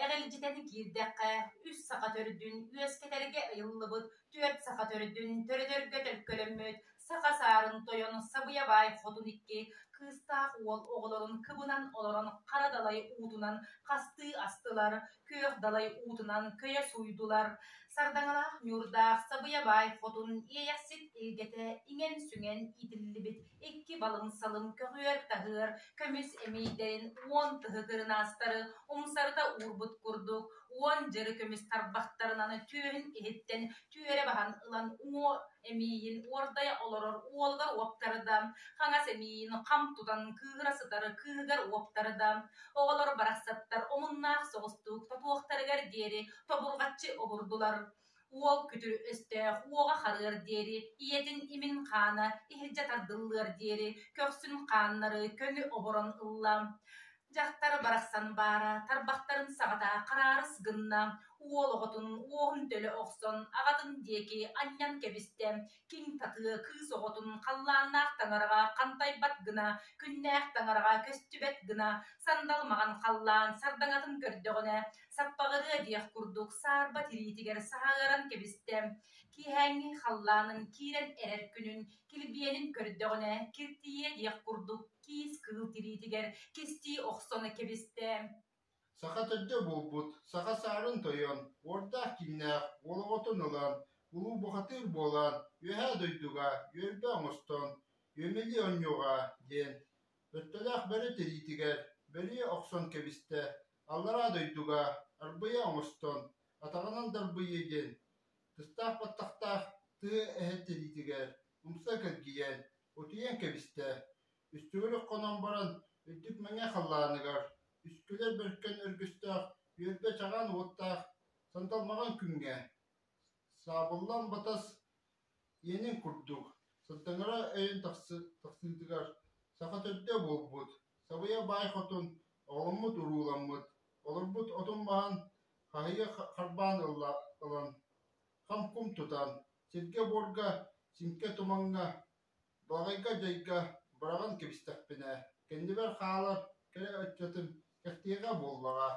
эҕэлдьитэн киирдэххэ, үс саха төрдүн үөскэтэргэ ыйыллыбыт Түөрт саха төрүтүн төрөтөргө төлкөлөммүт Саха саарын тойон Сабыйабаай хотун икки кыыстаах уол оҕолорун кыбынан олорон хара далай уутунан хастыы астылар, күөх далай уутунан көйө сууйдулар. Сардаҥалаах ньуурдаах Сабыйабаай хотун иэйэхсит илгэтэ иҥэн-сүҥэн иитиллибит икки балыҥсалын көҕүөр-таһыар көмүс эмиийдэрин уон тыһы кырынаастары умсарыта уурбут курдук, уон дьары көмүс тарбахтарынан түөһүн иһиттэн түөрэ баһан ылан уҥуо эмиийин уордайа олорор уолугар уоптарда, хаҥас эмиийин хам тутан кыыһыра сытар кыыһыгар уоптарда, оҕолор барахсаттар омуннаах соҕустук тотуохтарыгар диэри тобурҕаччы обурдулар. Уол күтүр-өстөөх уоҕа харыар диэри, ийэтин имин-хаана иһирдьэ тардыллыар диэри көхсүн хааннары көҥү оборон ылла. Дьахтар барахсан баара, тарбахтарын саҕата хараарыс гынна, уол оҕотун уоһун төлө охсон аҕатын диэки анньан кэбистэ, Киҥ татыа кыыс оҕотун халлааннаах таҥараҕа хантайбат гына, күннээх таҥараҕа көстүбэт гына, сандал маҕан халлаан сардаҥатын көрдөҕүнэ, саппаҕырыа диэх курдук саарба тириитигэр саһаҕыран кэбистэ. Киэһээҥҥи халлаанын киирэн эрэр күнүн, килбиэнин көрдөҕүнэ, киртийиэ диэх курдук киис кыыл тириитигэр кистии охсон кэбистэ. Саха төрдө буолбут, саха саарын тойон, уордаах киҥнээх уол оҕотун ылан, улуу бухатыыр буолан, үөһээ дойдуга үөрбэ оҥостон, үөмэлии онньуоҕа диэн өттөлөөх бөрө тириитигэр бөрүйэ охсон кэбистэ, аллараа дойдуга арбыйа оҥостон, атаҕынан дарбыйыа диэн тыстаах баттахтаах тыа эһэ тириитигэр умса кэлгийэн утуйан кэбистэ, Үстүгүр хонон баран, үрдүк мэҥэ халлааныгар, үскүлэр бөркөн өргүстээх, үөрбэ чаҕаан уоттаах, сандалмаҕан күҥҥэ, саабыллан батас иэнин курдук, сырдаҥара өйөн тахсыытыгар саха төрдө буолбут, сабыйа баай хотун, оҕоломмут урууламмыт, олорбут отун маһын хаһыйа харбаан ылан, хам-кум тутан, сиргэ-буорга, симкэ тумаҥҥа, Баҕайга-дьайга быраҕан кэбистэхпинэ, кэннибэр хаалар кэрэ өттөтүн кэхтиэҕэ буоллаҕа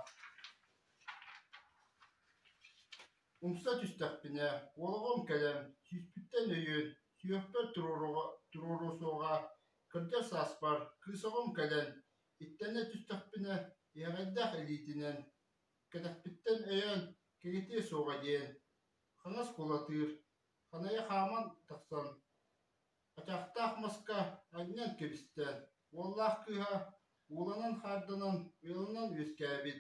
Умса түстэхпинэ, олоҕум кэлэн, сүүспүттэн өйүн, сүһүөхпэр туруоруо суоҕа, кырдьар сааспар кыысаҕым кэлэн, иттэнэ түстэхпинэ, иһэҕэйдээх илиитинэн, кэтэхпиттэн өйөөн кэҥэтиэ суоҕа диэн хаҥас кулатыыр Ханайа хааман тахсан, ачаахтаах маска анньан кэбистэ, уоллаах кыыһа ууланан-хаарданан ыалынан үөскээбит,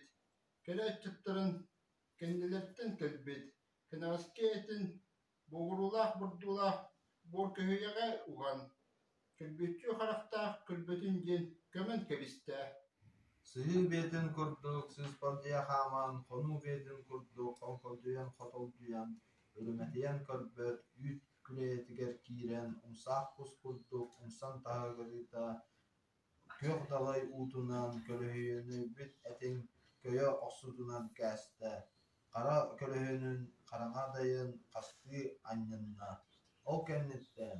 кэлэ аччыктарын кэннилэриттэн кэлбит, кэнэҕэски этин бугуруулаах-бурдуулаах буоркөһүйэҕэ уһан, Күлбүттүү харахтаах күлбүтүн диэн көмөн кэбистэ сыһыы бэйэтин курдук сыыспал дьиэ хааман хонуу бэйэтин курдук хоҥхолдьуйан хотолдьуйан өрүмэтийэн көрбөт үүт күлэйэтигэр киирэн умсаах кус курдук умсан таһыгырыта күөх далай уутунан көлөһүнүйбүт этин көйө охсутунан кээстэ хара көлөһүнүн хараҥа дайын хастыы анньынна ол кэнниттэн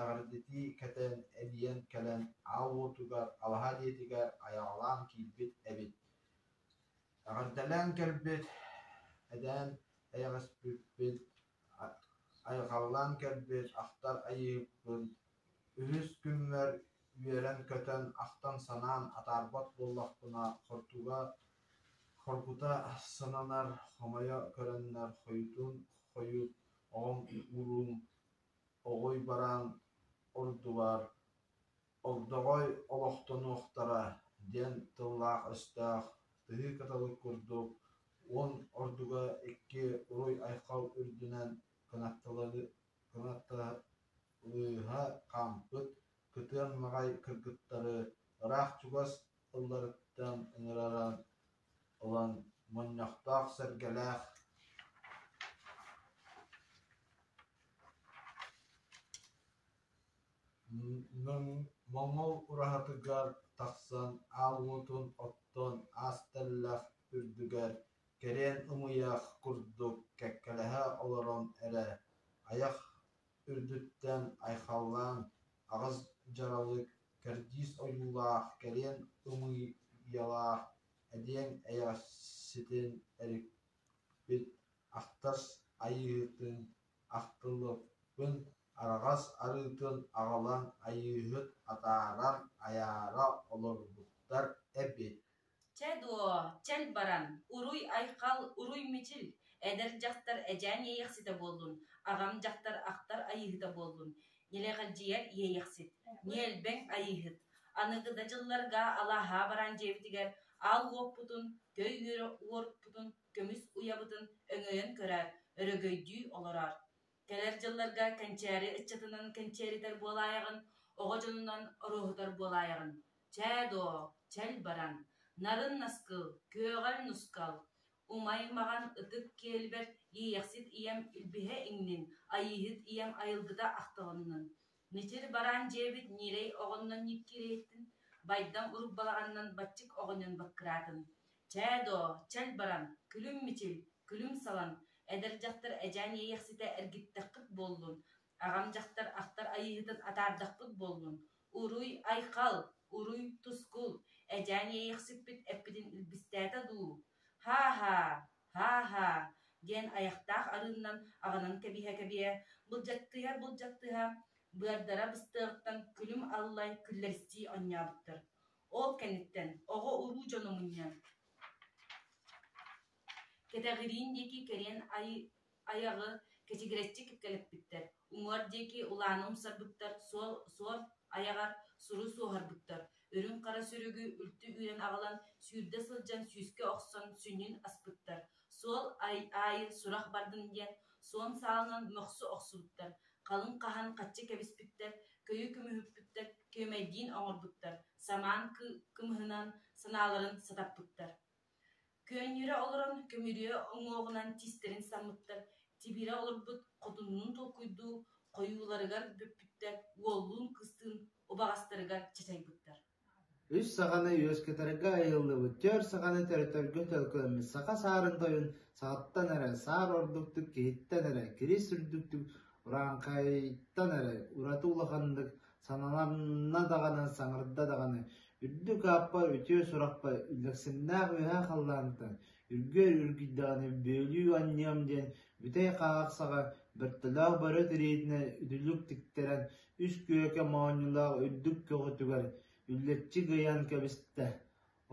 эҕэрдэтии кэтэн эбийиэн кэлэн аал уотугар алаһа диэтигэр айаҕалаан киирбит эбит эҕэрдэлээн кэлбит эдээн эйэҕэспиппит айылҕалаан кэлбит ахтар айыыппыт үһүс күммэр үөрэн-көтөн ахтан-санаан атаарбат буоллахпына хортуга хоргута сананар хомойо көрөннөр хойутун хойут оҕом уруум Оҕой бараан ордубар Ордоҕой олохтонуохтара диэн тыллаах-өстөөх тыһыы кыталык курдук уон ордуга икки уруй-айхал үрдүнэн кынатталыыһа хаампыт кытыан маҕай кыргыттары ыраах чугас ылларыттан ыҥыраран ылан мунньахтаах сэргэлээх моҥол ураһатыгар тахсан аал уотун оттон аас тэллэх үрдүгэр кэриэн ымыйах курдук кэккэлэһэ олорон эрэ айах үрдүттэн айхаллаан аҕыс дьаралык, кэрдиис ойуулаах, кэлиэн ымыйалаах эдиэҥ эйэҕэситин эрикпит ахтар айыыһытын ахтыллыбыппын, араҕас арыытын аҕалан айыыһыт атаарар, айаара олорбуттар эбит Чэ дуо, чэл баран, уруй-айхал, уруй-мичил, эдэр дьахтар эдьээн иэйэхситэ буоллун, аҕам дьахтар ахтар айыыһыта буоллун, нилэҕирдьийэр иэйэхсит, ньиэлбэҥ айыыһыт, аныгы да дьылларга алааһаа баран дьиэбитигэр аал уоппутун, төй үөруппутун, көмүс уйабытын өҥөйөн көрөөр, өрөгөйдүү олороор Кэлэр дьылларга кэнчээри ыччатынан кэнчээритэр буолаайаҕын, оҕо дьонунан ороһутар буолаайаҕын. Чээ доо, чэл баран, нарын наскыл, күөҕэл нускал, умай-маҕан ытык киэлбэр иэйэхсит ийэм илбиһэ иҥнин, айыыһыт ийэм айылгыта ахтылыннын. Мичил бараан дьиэбит ньирэй оҕоннон ньиккирэйиттин, байдам урут балаҕанынан баччык оҕонньон быккыраатын, «Чээ доо, чэл баран, күлүм Мичил, күлүм салан, эдэр дьахтар эдьээн иэйэхситэ эргиттэххит буоллун, аҕам дьахтар ахтар айыыһытын атаардахпыт буоллун, уруй Айхал, уруй Тускул, эдьээн иэйэхсиппит эппитин илбистээтэ дуу? Һаа-һаа! Һаа-һаа, диэн айахтаах арыыннан аҕанан кэбиһэ-кэбиһэ, былдьаттыһа-былдьаттыһа, быардара быстыаҕыттан күлүм аллай күллэристии онньообуттар. Ол кэнниттэн оҕо-уруу дьоно мунньан, кэтэҕириин диэки кэриэн ай Айаҕы кэчигирэччи кэккэлэппиттэр, уҥуор диэки улаана умсарбыттар, суол суор айаҕар суру суоһарбыттар, үрүҥ хара сүрүгү үлтү үүрэн аҕалан сүүрдэ сылдьан сүүскэ охсон сүнньүн аспыттар, суол аайы сурах бардын диэн суон саалынан мөхсө охсубуттар, халыҥ хаһан хаччы кэбиспиттэр, көйө көмүһүппүттэр, күөмэйдиин оҥорбуттар, самаан кымыһынан санааларын сатаппыттар Көөнньөрө олорон көмүрүө уҥуоҕунан тистэрин саммыттар тибирэ олорбут хотуннуун толкуйдуу, хойууларыгар бөппүттэр уоллуун-кыстыын убаҕастарыгар чачайбыттар Үс саҕаны үөскэтэргэ айыллыбыт түөрт саҕаны төрөтөргө төлкүлэммит саха саарын тойун саҕаттан эрэ саар ордуктук киһиттэн эрэ кирис үрдүктүк урааҥхайтан эрэ ураты улаханнык Саналанна даҕаны, саҥарда даҕаны, үрдүк ааппа үтүө сурахпа үллэксиннээх үөһэ халлаантан үргэр үргүйдэҕинэ бүөлүү анньыам диэн бүтэй хаахсаҕа бөртөлөөх бөрө тириитинэн үтүлүк тиктэрэн үс күөкэ моонньулаах үрдүк көҕүтүгэр үллэччи гыйан кэбистэ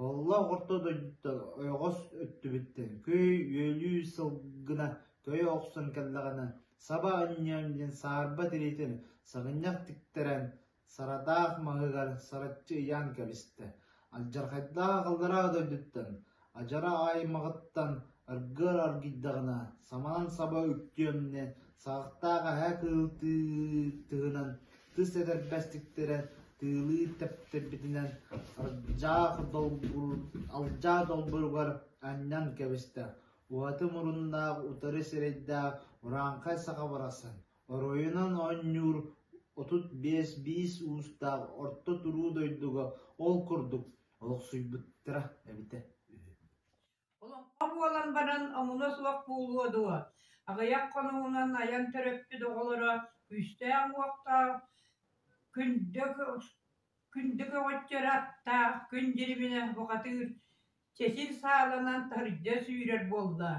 Олох орто дойдуттан ойоҕос өттүбүттэн күй-үөлүү сылгына көйө охсон кэллэҕинэ саба өнньүөм диэн саарба тириитин сыгынньах тиктэрэн, сарадаах маһыгар сараччы ыйаан кэбистэ, алдьархайдаах аллараа дойдуттан, адьара аймаҕыттан Аргыар аргыйдаҕына, самаан саба үктүөмнэ, саҕахтаах эһэ кыылтыыр тыһынан тыс этэрбэстиктэрэ тыылыыр тэптэрбитинэн алдьаах долбур алдьаа долбуругар анньан кэбистэ. Уһаты муруннаах утары сирэйдээх урааҥхай саха барахсан оройунан оонньуур отут биэс биис уустаах орто туруу дойдуга ол курдук олохсуйбуттара эбитэ үһү Олоххо буолан баран омуна суох буолуо дуо, аҕыйах хонугунан айан төрөппүт оҕолоро күүстээх-уохтаах, күндү күндү көҕөччөрө аттаах күн дьириминэ бухатыыр, чэчир сааланан тардьа сүүрэр буолла.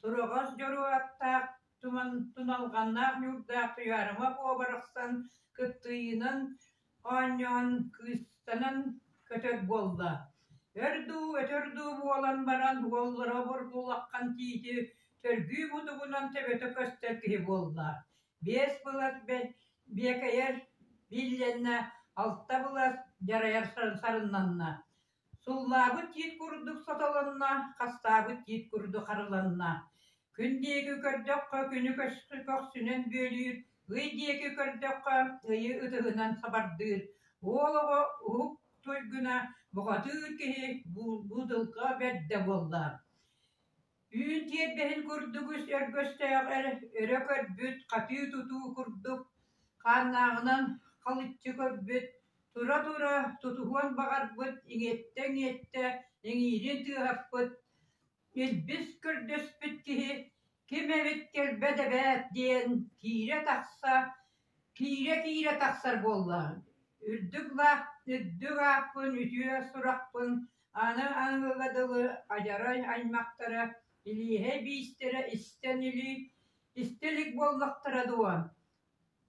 Тураҕас дьоруо аттаах туман туналҕаннаах ньуурдаах Туйаарыма буо барахсан кыттыйынан оонньоон кыыстанан көтөр буолла өр дуу өтөр дуу буолан баран уоллара обургулаххан тиити төргүү будугунан төбөтө көстөр киһи буолла биэс былас биэкэйэр биллэннэ алта былас дьарайар сарыннанна Суллаабыт тиит курдук сотолонно, хастаабыт тиит курдук харыланна. Күн диэки көрдөххө, күнү көскө көхсүнэн бүөлүүр, ый диэки көрдөххө, ыйы ытыһынан сабардыыр, уол оҕо уһук туйгуна, бухатыыр киһи буудылга бэрдэ буолла Үүн тиэрдэһин курдук үс өргөстөөҕөр өрө көрбүт, хатыы-тутуу курдук, хааннааҕынан халыччы көрбүт, тура-тура тутуһуон баҕарбыт, иҥиттэ-иҥиттэ иҥиирин тыаһаппыт, илбис көрдөспүт киһи «Ким эбит кэлбэт эбээт!» диэн киирэ-тахса, Киирэ-киирэ тахсар буоллаҕыҥ, үрдүк лаах үрдүк ааппын, үтүө сурахпын, аны аныгыга дылы адьарай аймахтара, илииһэ биистэрэ истэн илии истэ илик буоллахтара дуо,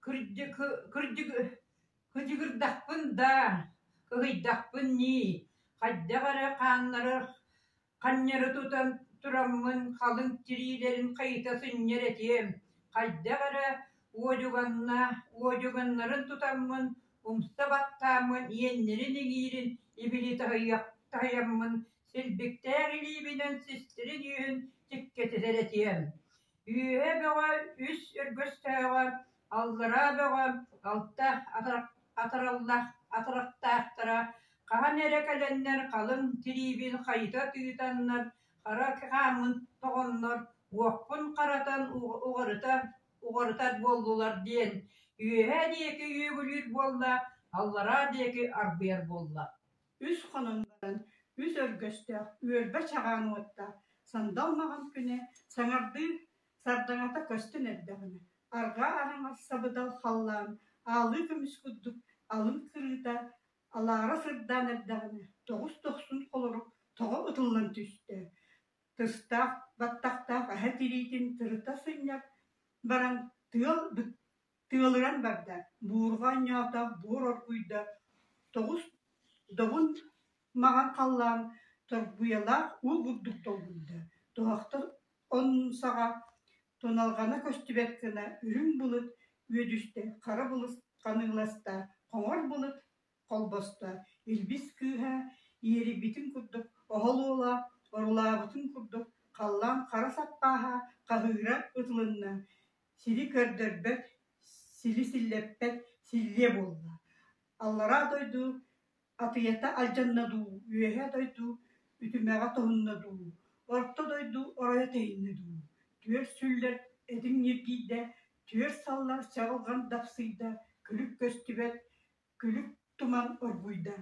кырдьык кырдьык кыдьыгырдахпын даа, кыһыйдахпын нии, хайдах эрэ хааннара Ханньары тутан тураммын халыҥ тириилэрин хайыта сынньар этиэм, хайдах эрэ уодьуганна уодьуганнарын тутаммын, умса баттааммын иэннэрин-иҥиирин ибили таһыйаммын силбиктээх илиибинэн систирин-үөһүн дьиктитэтэр этиэм: «Үөһэ бөҕө үс өргөстөөҕө Аллараа бөҕө алта атыраллах атырахтаахтара хаһан эрэ кэлэннэр халыҥ тириибин хайыта тыытаннар хара хааммыт тоҕоннор уохпун харатан уҕарыта уҕарытар буоллулар диэн үөһээ диэки үөгүлүүр буолла аллараа диэки арбыйар буолла үс хонон баран үс өргөстөөх үөрбэ чаҕаан уотта сандал маҕан күнэ саҥардыы Сардаҥата көстөн эрдэҕинэ, арҕаа араҥас сабыдал халлаан аалыы көмүс курдук алын кырыыта алаара сырдаан эрдэҕинэ тоҕус дохсун холорук тоҕо ытыллан түстэ, тыстаах баттахтаах аһа тириитин тырыта сынньар баран тыал Тыалыран барда, буурҕа онньоотох буор оргуйда, тоҕус добун маҥан халлаан торбуйалаах уу бурдук долгуйда, тоһохтор оннусаҕа туналҕана көстүбэт гына үрүҥ былыт үөдүстэ, хара былыт ханыыласта, хоҥор былыт холбосто, илбис кыыһа иэрийбитин курдук оһол уола орулаабытын курдук халлаан хара саппааһа хаһыыра ытылынна, Сири көрдөрбөт, сили силлэппэт силлиэ буолла, аллараа дойду атыйата алдьанна дуу, үөһээ дойду үтүмэҕэ тоһунна дуу, орто дойду оройо тэйиннэ дуу, түөрт сүллэр этиҥ ньиргийдэ, түөрт саллар чаҕылҕан дапсыйда, күлүк көстүбэт күлүк туман оргуйда,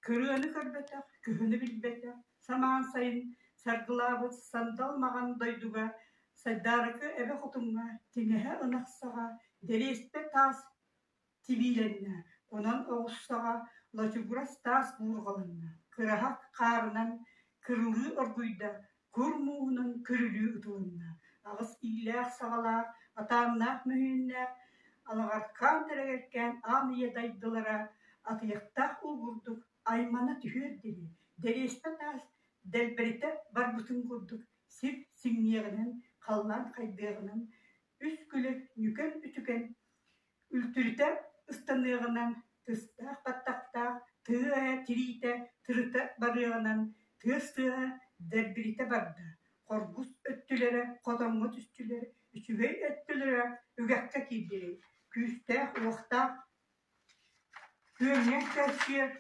кырыаны көрбөтөх, күһүнү билбэтэх самаан сайын саргылаабыт сандал маҕан дойдуга Сайдаарыкы эбэ хотуҥҥа тиҥэһэ ынахсаҕа дэриэстэ таас тибиилэннэ, онон оҕуссаҕа лачугурас таас буурҕаланна, кыраһа хаарынан кырылыы оргуйда, кур мууһунан көрүлүү ытылынна, аҕыс иилээх-саҕалаах, атааннаах мөһүүннээх алаҕархаан тэрэгэркээн аан ийэ дайдылара атыйахтаах улгурдук аймана түһүөр диэри дэриэспэ таас дэлбэритэ барбытын курдук сир сиҥниэҕинэн халлаан хайдыаҕынан үс күлэ нүкэн-үтүкэн Үлтүрүтэ ыстаныаҕынан, тыстаах баттахтаах тыа айа тириитэ тырыта барыаҕынан, тыас тыаһа дэрбиритэ барда, хоргус өттүлэрэ, хотоҥҥо түстүлэр, үчүгэй өттүлэрэ үгэххэ киирдилэр, күүстээх, уохтаах, күөҥҥэн кэпсиэр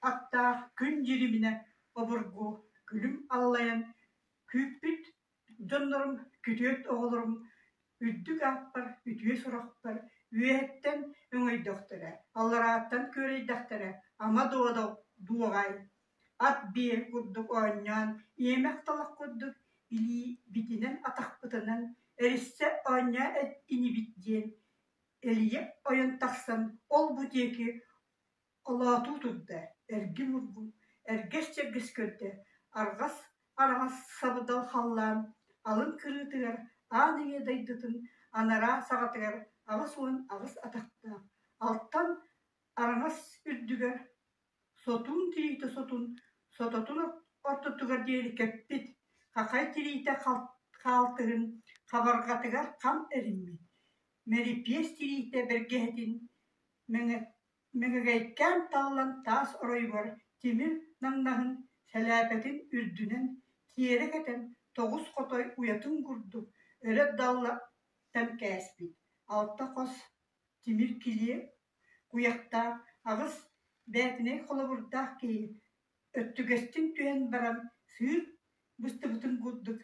аттаах күн дьириминэ обургу күлүм аллайан күүппүт Дьоннорум, күтүөт оҕолорум, үрдүк ааппар, үтүө сурахпар үөһэттэн өҥөйдөхтөрө, алларааттан күөрэйдэхтэрэ ама дууда дуоҕай, ат биэр курдук оонньоон иэмэх талах курдук илиибитинэн атахпытынан эриссэ оонньоо инибит диэн элийэ ойон тахсан ол-бу диэки Холоотуу турда, эргим ургу, эргэс-чэргэс көрдө, арҕас араҥас сабыдал халлаан алын кырыытыгар аан үйэ дойдутун анараа саҕатыгар аҕыс уон аҕыс атахтаах, алтан араҥас үрдүгэр сотун тириитэ сотун, сототун ортотугар диэри кэппит хахай тириитэ хаалтыһын хабарҕатыгар хам эриммит, мэрипиэс тириитэ бэргэһэтин мэҥэ Мөкүгэйкээн таллан таас оройугар тимир наҥнаһын сэлээпэтин үрдүнэн тиэрэ кэтэн тоҕус хотой уйатын курдук өрө даллаттан кээспит алта хос тимир килиэ куйахтаах аҕыс бээтинэй холобурдаах киһи өттүгэстин түһэн баран сыыр быстыбытын курдук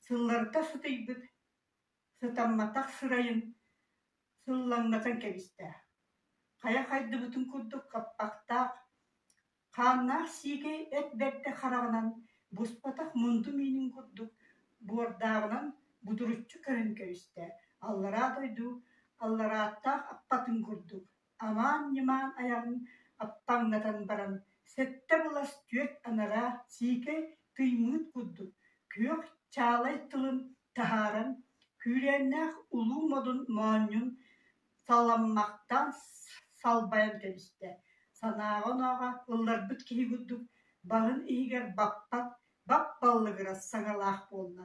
сылларыта сытыйбыт Сытамматах сырайын сыллаҥнатан кэбистэ, хайа хайдыбытын курдук хаппахтаах, хааннаах сиикэй эт бэрдэ хараҕынан буспатах мунду миинин курдук буордааҕынан будуруччу көрөн кэбистэ, аллараа дойду алларааттаах аппатын курдук амаан-ньымаан айаҕын аптаҥнатан баран, сэттэ былас түөрт анараа сиикэй тыймыыт курдук күөх чаалай тылын таһааран, күүрээннээх улуу модун моонньун саламмахтаан салбайан кэбистэ, санааҕа-онооҕо ылларбыт киһи курдук, баҕын иһигэр баппат бап баллыгырас саҥалаах буолла.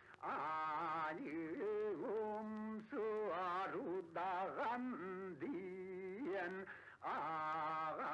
Алилум суарудаҕан диэн ааҕа